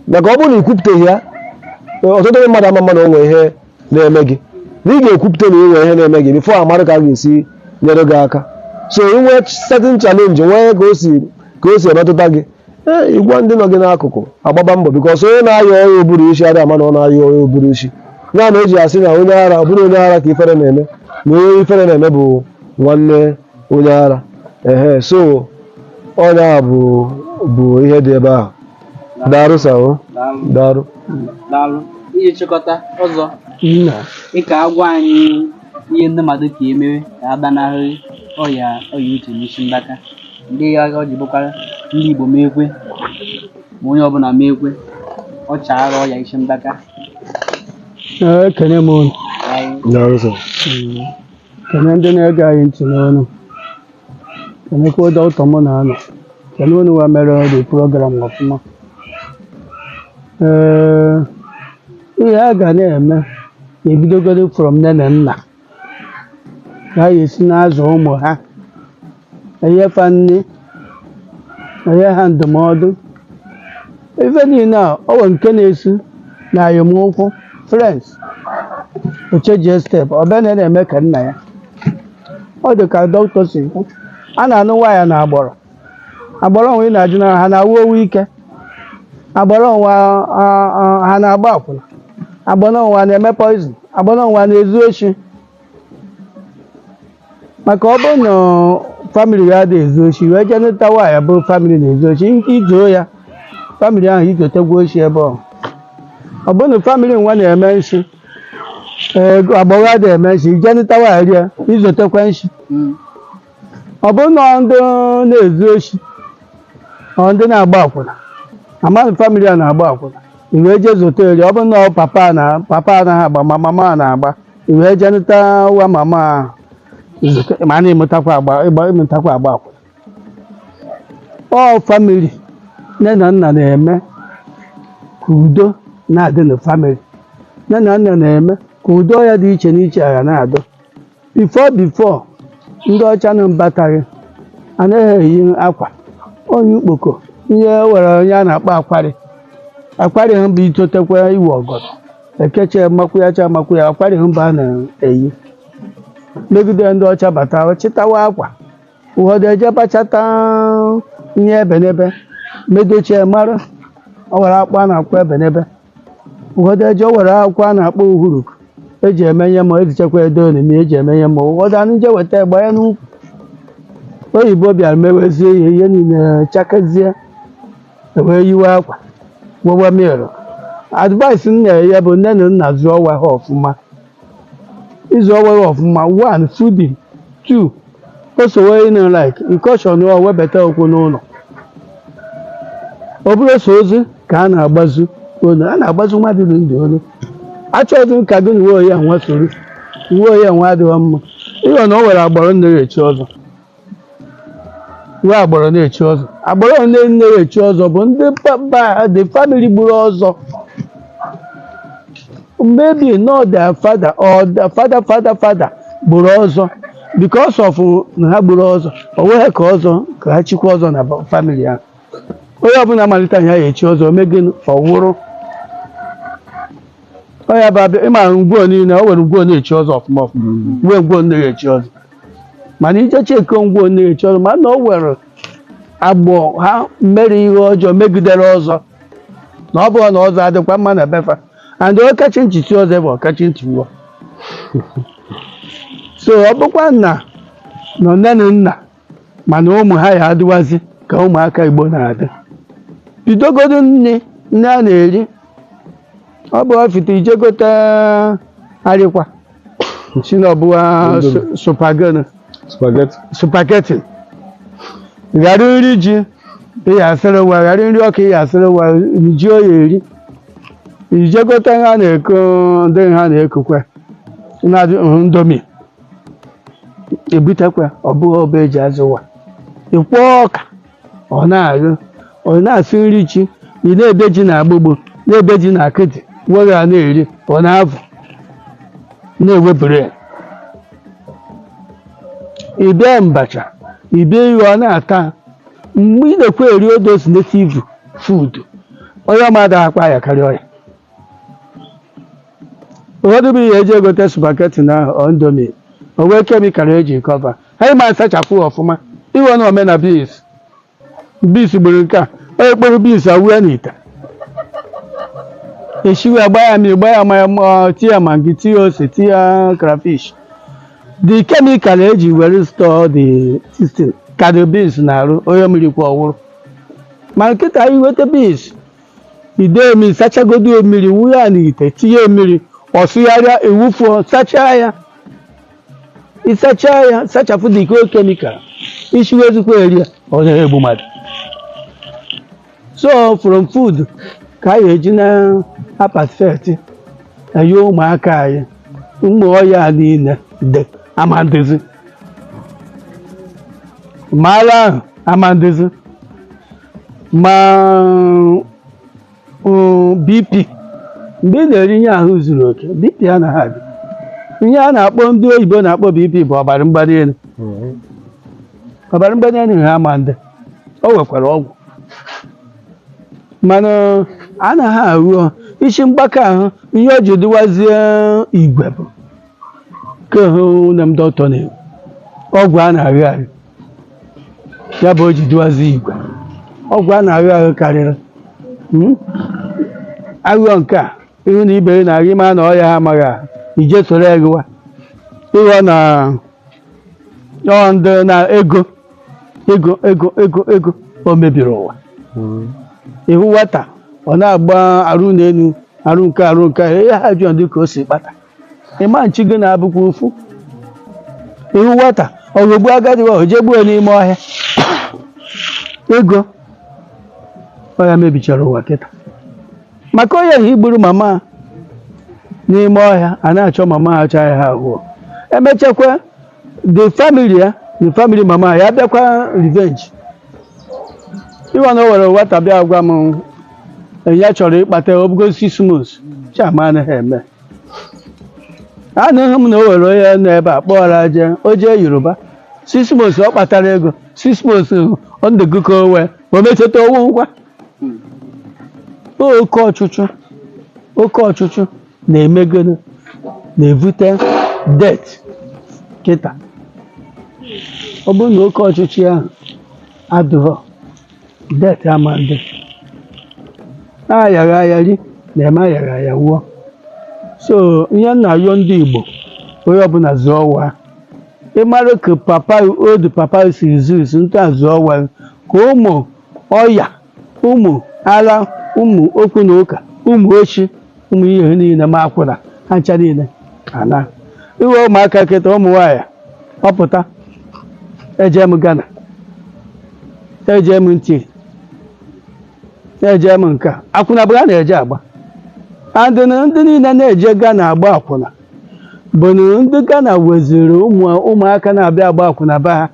maka ọ bụrụ na i kwupụtaghị ya ọtụtụ ndị mmadụ ama mma na o nwere ihe na-eme gị na ị ga-ekwupụta na ị nwere ihe na-eme gị before a marụ ka a ga-esi nyere gị aka so i nwee certain challenge nwee ka o si ka o si emetụta gị ee ị gwa ndị nọ gị n'akụkụ a gbaba mbọ because onye na-aya ọya ụbụrụ isi adịghị ama na ọ na-aya ọya ụbụrụ isi ya na o ji asị na onye ara ọ bụrọ onye ara ka ifere na-eme na onye ifere na-eme bụ nwanne onye ara ehe so ọ nya bụ ihe dị ebe ahụ darụ sa o Daalụ. darụ Daalụ. Iji chịkọta ọzọ nna ị ka-agwa anyị ihe ndị mmadụ ka emewe ka a gbanarị ọya ọya uche na isi mgbaka ndị agha ọ ji bụkwara ndị Igbo mekwe ma onye ọbụla mekwe ọ chaara ọya isi mgbaka ekene m unu Daalụ. darụ sa Mm. kene ndị na-ege anyị ntị n'ụnọ kenekwa doctor mụ na ya nọ kene unu wa mere the program ọfụma ee ihe a ga na-eme na-ebidogoro from nne na nna ka ha esi na-azụ ụmụ ha enye fa nri enye ha ndụmọdụ ife niile a ọ nwere nke na-esi na ayọmụkwụ friends o chenjie step ọ bịa na na-eme ka nna ya ọ dị ka doctor si kwu a na-anụ nwaanyị na agbụrụ agbụrụ e nwe ị na-ajụ na ha na-anwụ ọnwụ ike agbụrụ e nwe a- a- a- ha na-agba akwụna agbụrụ e nwe a na-eme poison agbụrụ e nwe a na-ezu oshi maka ọ bụrụ na family ị adị ezu oshi i wee jee nụta nwaanyị bụ family na-ezu oshi i zuo ya family ahụ i zotekwa oshi ebe ọ ọ bụrụ na family nwa na-eme nshi ee agbụrụ adị eme nshi i je nụta nwaanyị rie i zotekwa nshi ọ bụrụ na ndị na-ezu oshi ọ ndị na-agba akwụna amaghị family a na-agba akwụna i wee jee zote eri ọ bụrụ na ọ papa na papa anaghị agba ma mama a na-agba i wee je nụta nwa mama ahụ ma a na-emetakwa agba ịgba emetakwa agba akwụna ọ family nne na nna na-eme ka udo na-adị na family nne na nna na-eme ka udo ya dị iche n'iche agha na-adọ before before ndị ọcha na mbataghị anaghị eyi akwa onye ukpoko ihe were ihe a na-akpọ akwarị akwarị ha bụ i totekwa i we ọgọdọ ekeche makwụ ya cha makwụ ya akwarị ha mba a na-eyi megide ndị ọcha bata chịtawa akwa ụfọdụ eje bachata ihe ebenebe medochie mara ọ were akpụ a na-akpọ ebenebe ụfọdụ eje o were akwụkwọ a na-akpọ uhuru eji eme ihe ma ezichekwa edo onimi eji eme ihe ma ụfọdụ anụ je weta egbe ya n'ukwu oyibo bịara mewezie ihe ihe niile chakazie wee yiwe akwa wewe mịrọ advice m nyere ya bụ nne na nna zụọ nwa ha ọfụma ịzụ nwa ha ọfụma one fooding two o sowe ịnụ like ị caution ọ webata okwu n'ụlọ ọ bụrọ sọ ozu ka a na-agbazi olu a na-agbazi mmadụ dị ndụ olu achọghịzị m ka gị na uwe oyi a nwa soro uwe oyi a nwa adịghị mma ịghọ na o nwere agbọrọ na-echi ọzọ nwee agbọrọ na-echi ọzọ agbọrọ ole na-echi ọzọ bụ ndị papa the family gburu ọzọ maybe not their father or their father father father gburu ọzọ because of na ha gburu ọzọ o nweghị ka ọzọ ka ha chikwa ọzọ na family ha onye ọbụla malite ya ya echi ọzọ me gịnị ọ nwụrụ onye bụ abịa ị mara ngwo niile o nwere ngwo na-echi ọzọ ọfụma ọfụma nwee ngwo na-echi ọzọ mana ị je check ngwo na-echi ọzọ mana o nwere agbọ ha mere ihe ọjọọ megidere ọzọ na ọ bụrụ na ọzọ adịkwa mma na be fa and ọkachi ntị chi ọzọ bụ ọkachi ntị nwa so ọ bụkwa nna nọ nne na nna mana ụmụ ha ya adịwazi ka ụmụaka igbo na-adị bidogodo nri nri a na-eri ọ bụ ọfịta ị je gote ha rikwa Sị na ọ bụ nwa Indomie. spaghetti. spaghetti Spaghetti. Ghara nri ji ị ya-asịrị nwa ghara nri ọka ị ya-asịrị nwa gị ọ ya-eri. Ị je gote ha na-eko ndị ha na-ekokwa na-adị nhụ Indomie. Ebutekwa ọ bụghị ọba eji azụ nwa. Ịkwọ ọka ọ na-agụ ọ na-asụ nri ji ị na-ebe ji na agbụgbụ na-ebe ji na akịdị were a na-eri ọ na-afụ na-ewepụrụ ya ibe mbacha ibe iru ọ na-ata mgbe ị na-ekwe eri all those native food ọya ama adị akpa ya karịa ọya ụfọdụ bụ ihe eji egote spaghetti na indomie o nwee chemical eji cover ha ma asachapụ ọfụma iwe na omena beans beans gburu nke a onye kporo beans awụ n'ite eshiwe agba ya mmiri gba ya mmanụ tie ya maggi tie ya ose tie ya crayfish the chemical eji were store the system ka dị beans n'arụ onye riri kwa ọ nwụrụ ma kịta i weta beans ide mmiri sachagodo mmiri wụọ ya n'ite tinye mmiri ọ sụgharịa awụfuo sachaa ya ịsacha ya sachapụ the whole chemical i shiwezikwa erie ya ọ na-egbu mmadụ so from food ka anyị eji na apaseti enye ụmụaka anyị ụmụ ọya niile dị amandịzi ma ara ahụ amandịzi ma Mm, BP mgbe ị na-eri ihe ahụ zuru oke BP anaghị adị ihe a na-akpọ ndị oyibo na-akpọ BP bụ ọbara mgbali elu ọbara mgbali elu ha ama ndị o nwekwara ọgwụ mana anaghị ahụ ọ- isi mgbaka ahụ ihe o ji dịwazie igwe bụ ka hụ nne m dọkịta na-ekwu ọgwụ a na-arị arị ya bụ o ji dịwazie igwe ọgwụ a na-aghọ aghọ karịrị Mm? aghụghọ nke a ị hụ na ibe gị na-aghọ ịma na ọya ha amaghị ahụ ije soro ya gịwa ịghọ na ọ ndị na ego ego ego ego ego o mebiri ụwa ị hụ nwata ọ na-agba arụ n'elu arụ nke arụ nke ya ha jụọ dị ka o si kpata ịma nchi gị na-abụkwa ofu ị hụ nwata ọ ghọgbu agadi wa o je gbuo n'ime ọhịa ego ọ ya mebichara ụwa kịta maka onye ahụ gburu mama a n'ime ọhịa a na-achọ mama ha chọọ ya ha ahụọ emechakwa the family ya the family mama ya bịakwa revenge ịwa na o were nwata bịa gwa m ya chọrọ ịkpata obugo six months chama anaghị eme anụghị m na o were onye nọ ebe a kpọọrọ je o jee Yoruba six months ọ kpatara ego six months ọ ndụ gị ka o wee o mechata ọ wụ ngwa oke ọchụchụ oke ọchụchụ na-emegoro na-evute death kịta ọ bụrụ na oke ọchụchụ ahụ adụghọ death ama dị ayaghị aya ri na-eme ayaghị aya wụọ so ihe m na-ayọ ndị Igbo onye ọbụla zụọ wa ị mụrụ ka papa otu papa si zus ntụ a zụọ wa ka ụmụ ọya ụmụ ara ụmụ okwu na ụka ụmụ oshi ụmụ ihe niile ma akwụna ha ncha niile ana iwe ụmụaka kịta ụmụ nwaanyị ọ pụta eje m Ghana eje m ntị eje m nka akwụna bụ ha na-eje agba and na ndị niile na-eje Ghana agba akwụna bụ na ndị Ghana weziri ụmụ ụmụaka na-abịa agba akwụna be ha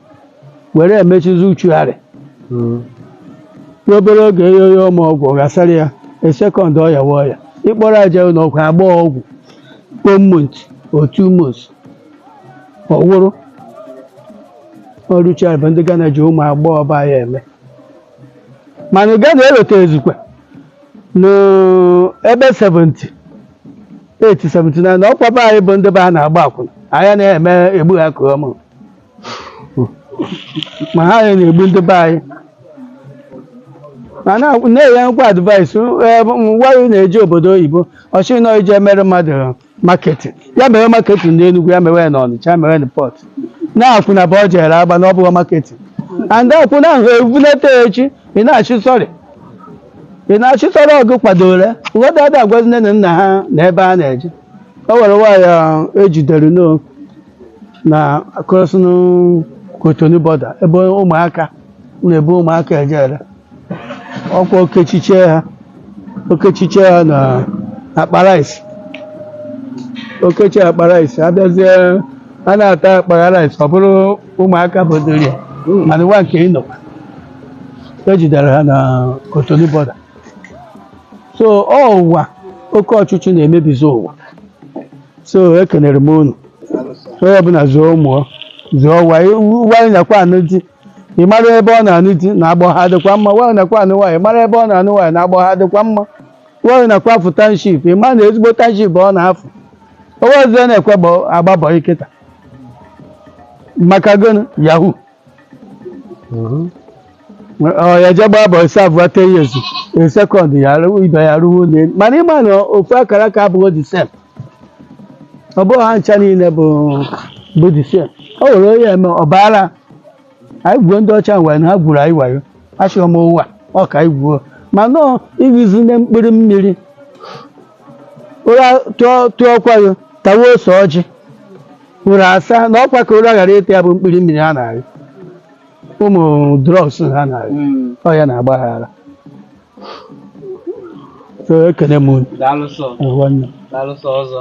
were emechizi ritual Mm. n'obere oge enye ya ụmụ ọgwụ ọ gasara ya in second ọ yawa ọya ịkpọrọ ya je ụlọ ọgwụ agba ọgwụ for month or two months ọ wụrụ ritual bụ ndị Ghana ji ụmụ agbọghọ be anyị eme mana Ghana erotazikwa n'ebe 78 79 ọkwa be anyị bụ ndị be ha na-agba akwụna anyị ana-emegbu ha ka ọmụ ma ha ya na-egbu ndị be anyị ma na- na-enyekwa advice nwaanyị na-eje obodo oyibo ọ sị na ọ na-eje emere mmadụ marketing ya mere marketing n'Enugu ya mere na Ọnịcha ya mere na Port na akwụna bụ ọ jere agba na ọ bụghị marketing and akwụna ahụ ebunata ya echi ị na-asị sorry ị na-asị sorry ọ gị kwadoro ya ụfọdụ ada agwazi nne na nna ha na ebe ha na-eje o were nwaanyị ejidere n'o na crossing Cotonou border ebe ụmụaka na-ebu ụmụaka eje ere ọkwa o kechichie ha o kechichie ha na akpa rice o kechie akpa rice abịazie a na-atọ akpa rice ọ bụrụ ụmụaka bodoro ya mana nwa nke ịnọ ejidere ha na Cotonou border so ọ ụwa oke ọchịchọ na-emebizi ụwa so ekenere m unu onye ọbụla zụọ ụmụ zụọ nwa ya nwa gị nakwa anụ di ị mara ebe ọ na-anụ di na agbọ ha dịkwa mma nwa gị nakwa anụ nwaanyị mara ebe ọ na-anụ nwaanyị na agbọ ha dịkwa mma nwa gị nakwa afụ township ị ma na ezigbo township ọ na-afụ o nwezi onye na-ekwe agba bọị kịta maka gịnị yahoo Mhm. Ọ ya je gbaa bọị seven ten years in second ya arụwo ibe ya arụwo ụnọ elu mana ị ma na ofu akara aka abụghị the same ọ bụghị ha ncha niile bụ bụ the same o were onye eme ọ baara anyị gwuo ndị ọcha wayo na ha gwuru anyị wayo achọghị m ụwa ọ ka anyị gwuo mana iwezina mkpụrụ mmiri ụra tụọ tụọ ọkwa gị tawa ose ọjị ụra asa na ọkwa ka ụra ghara ịtụ ya bụ mkpụrụ mmiri ha na-arị ụmụ drugs ha na-arị Mm. ọ ya na-agba ha ara So, ekene m unu. Daalụ sọ. Nwanne. Daalụ sọ ọzọ.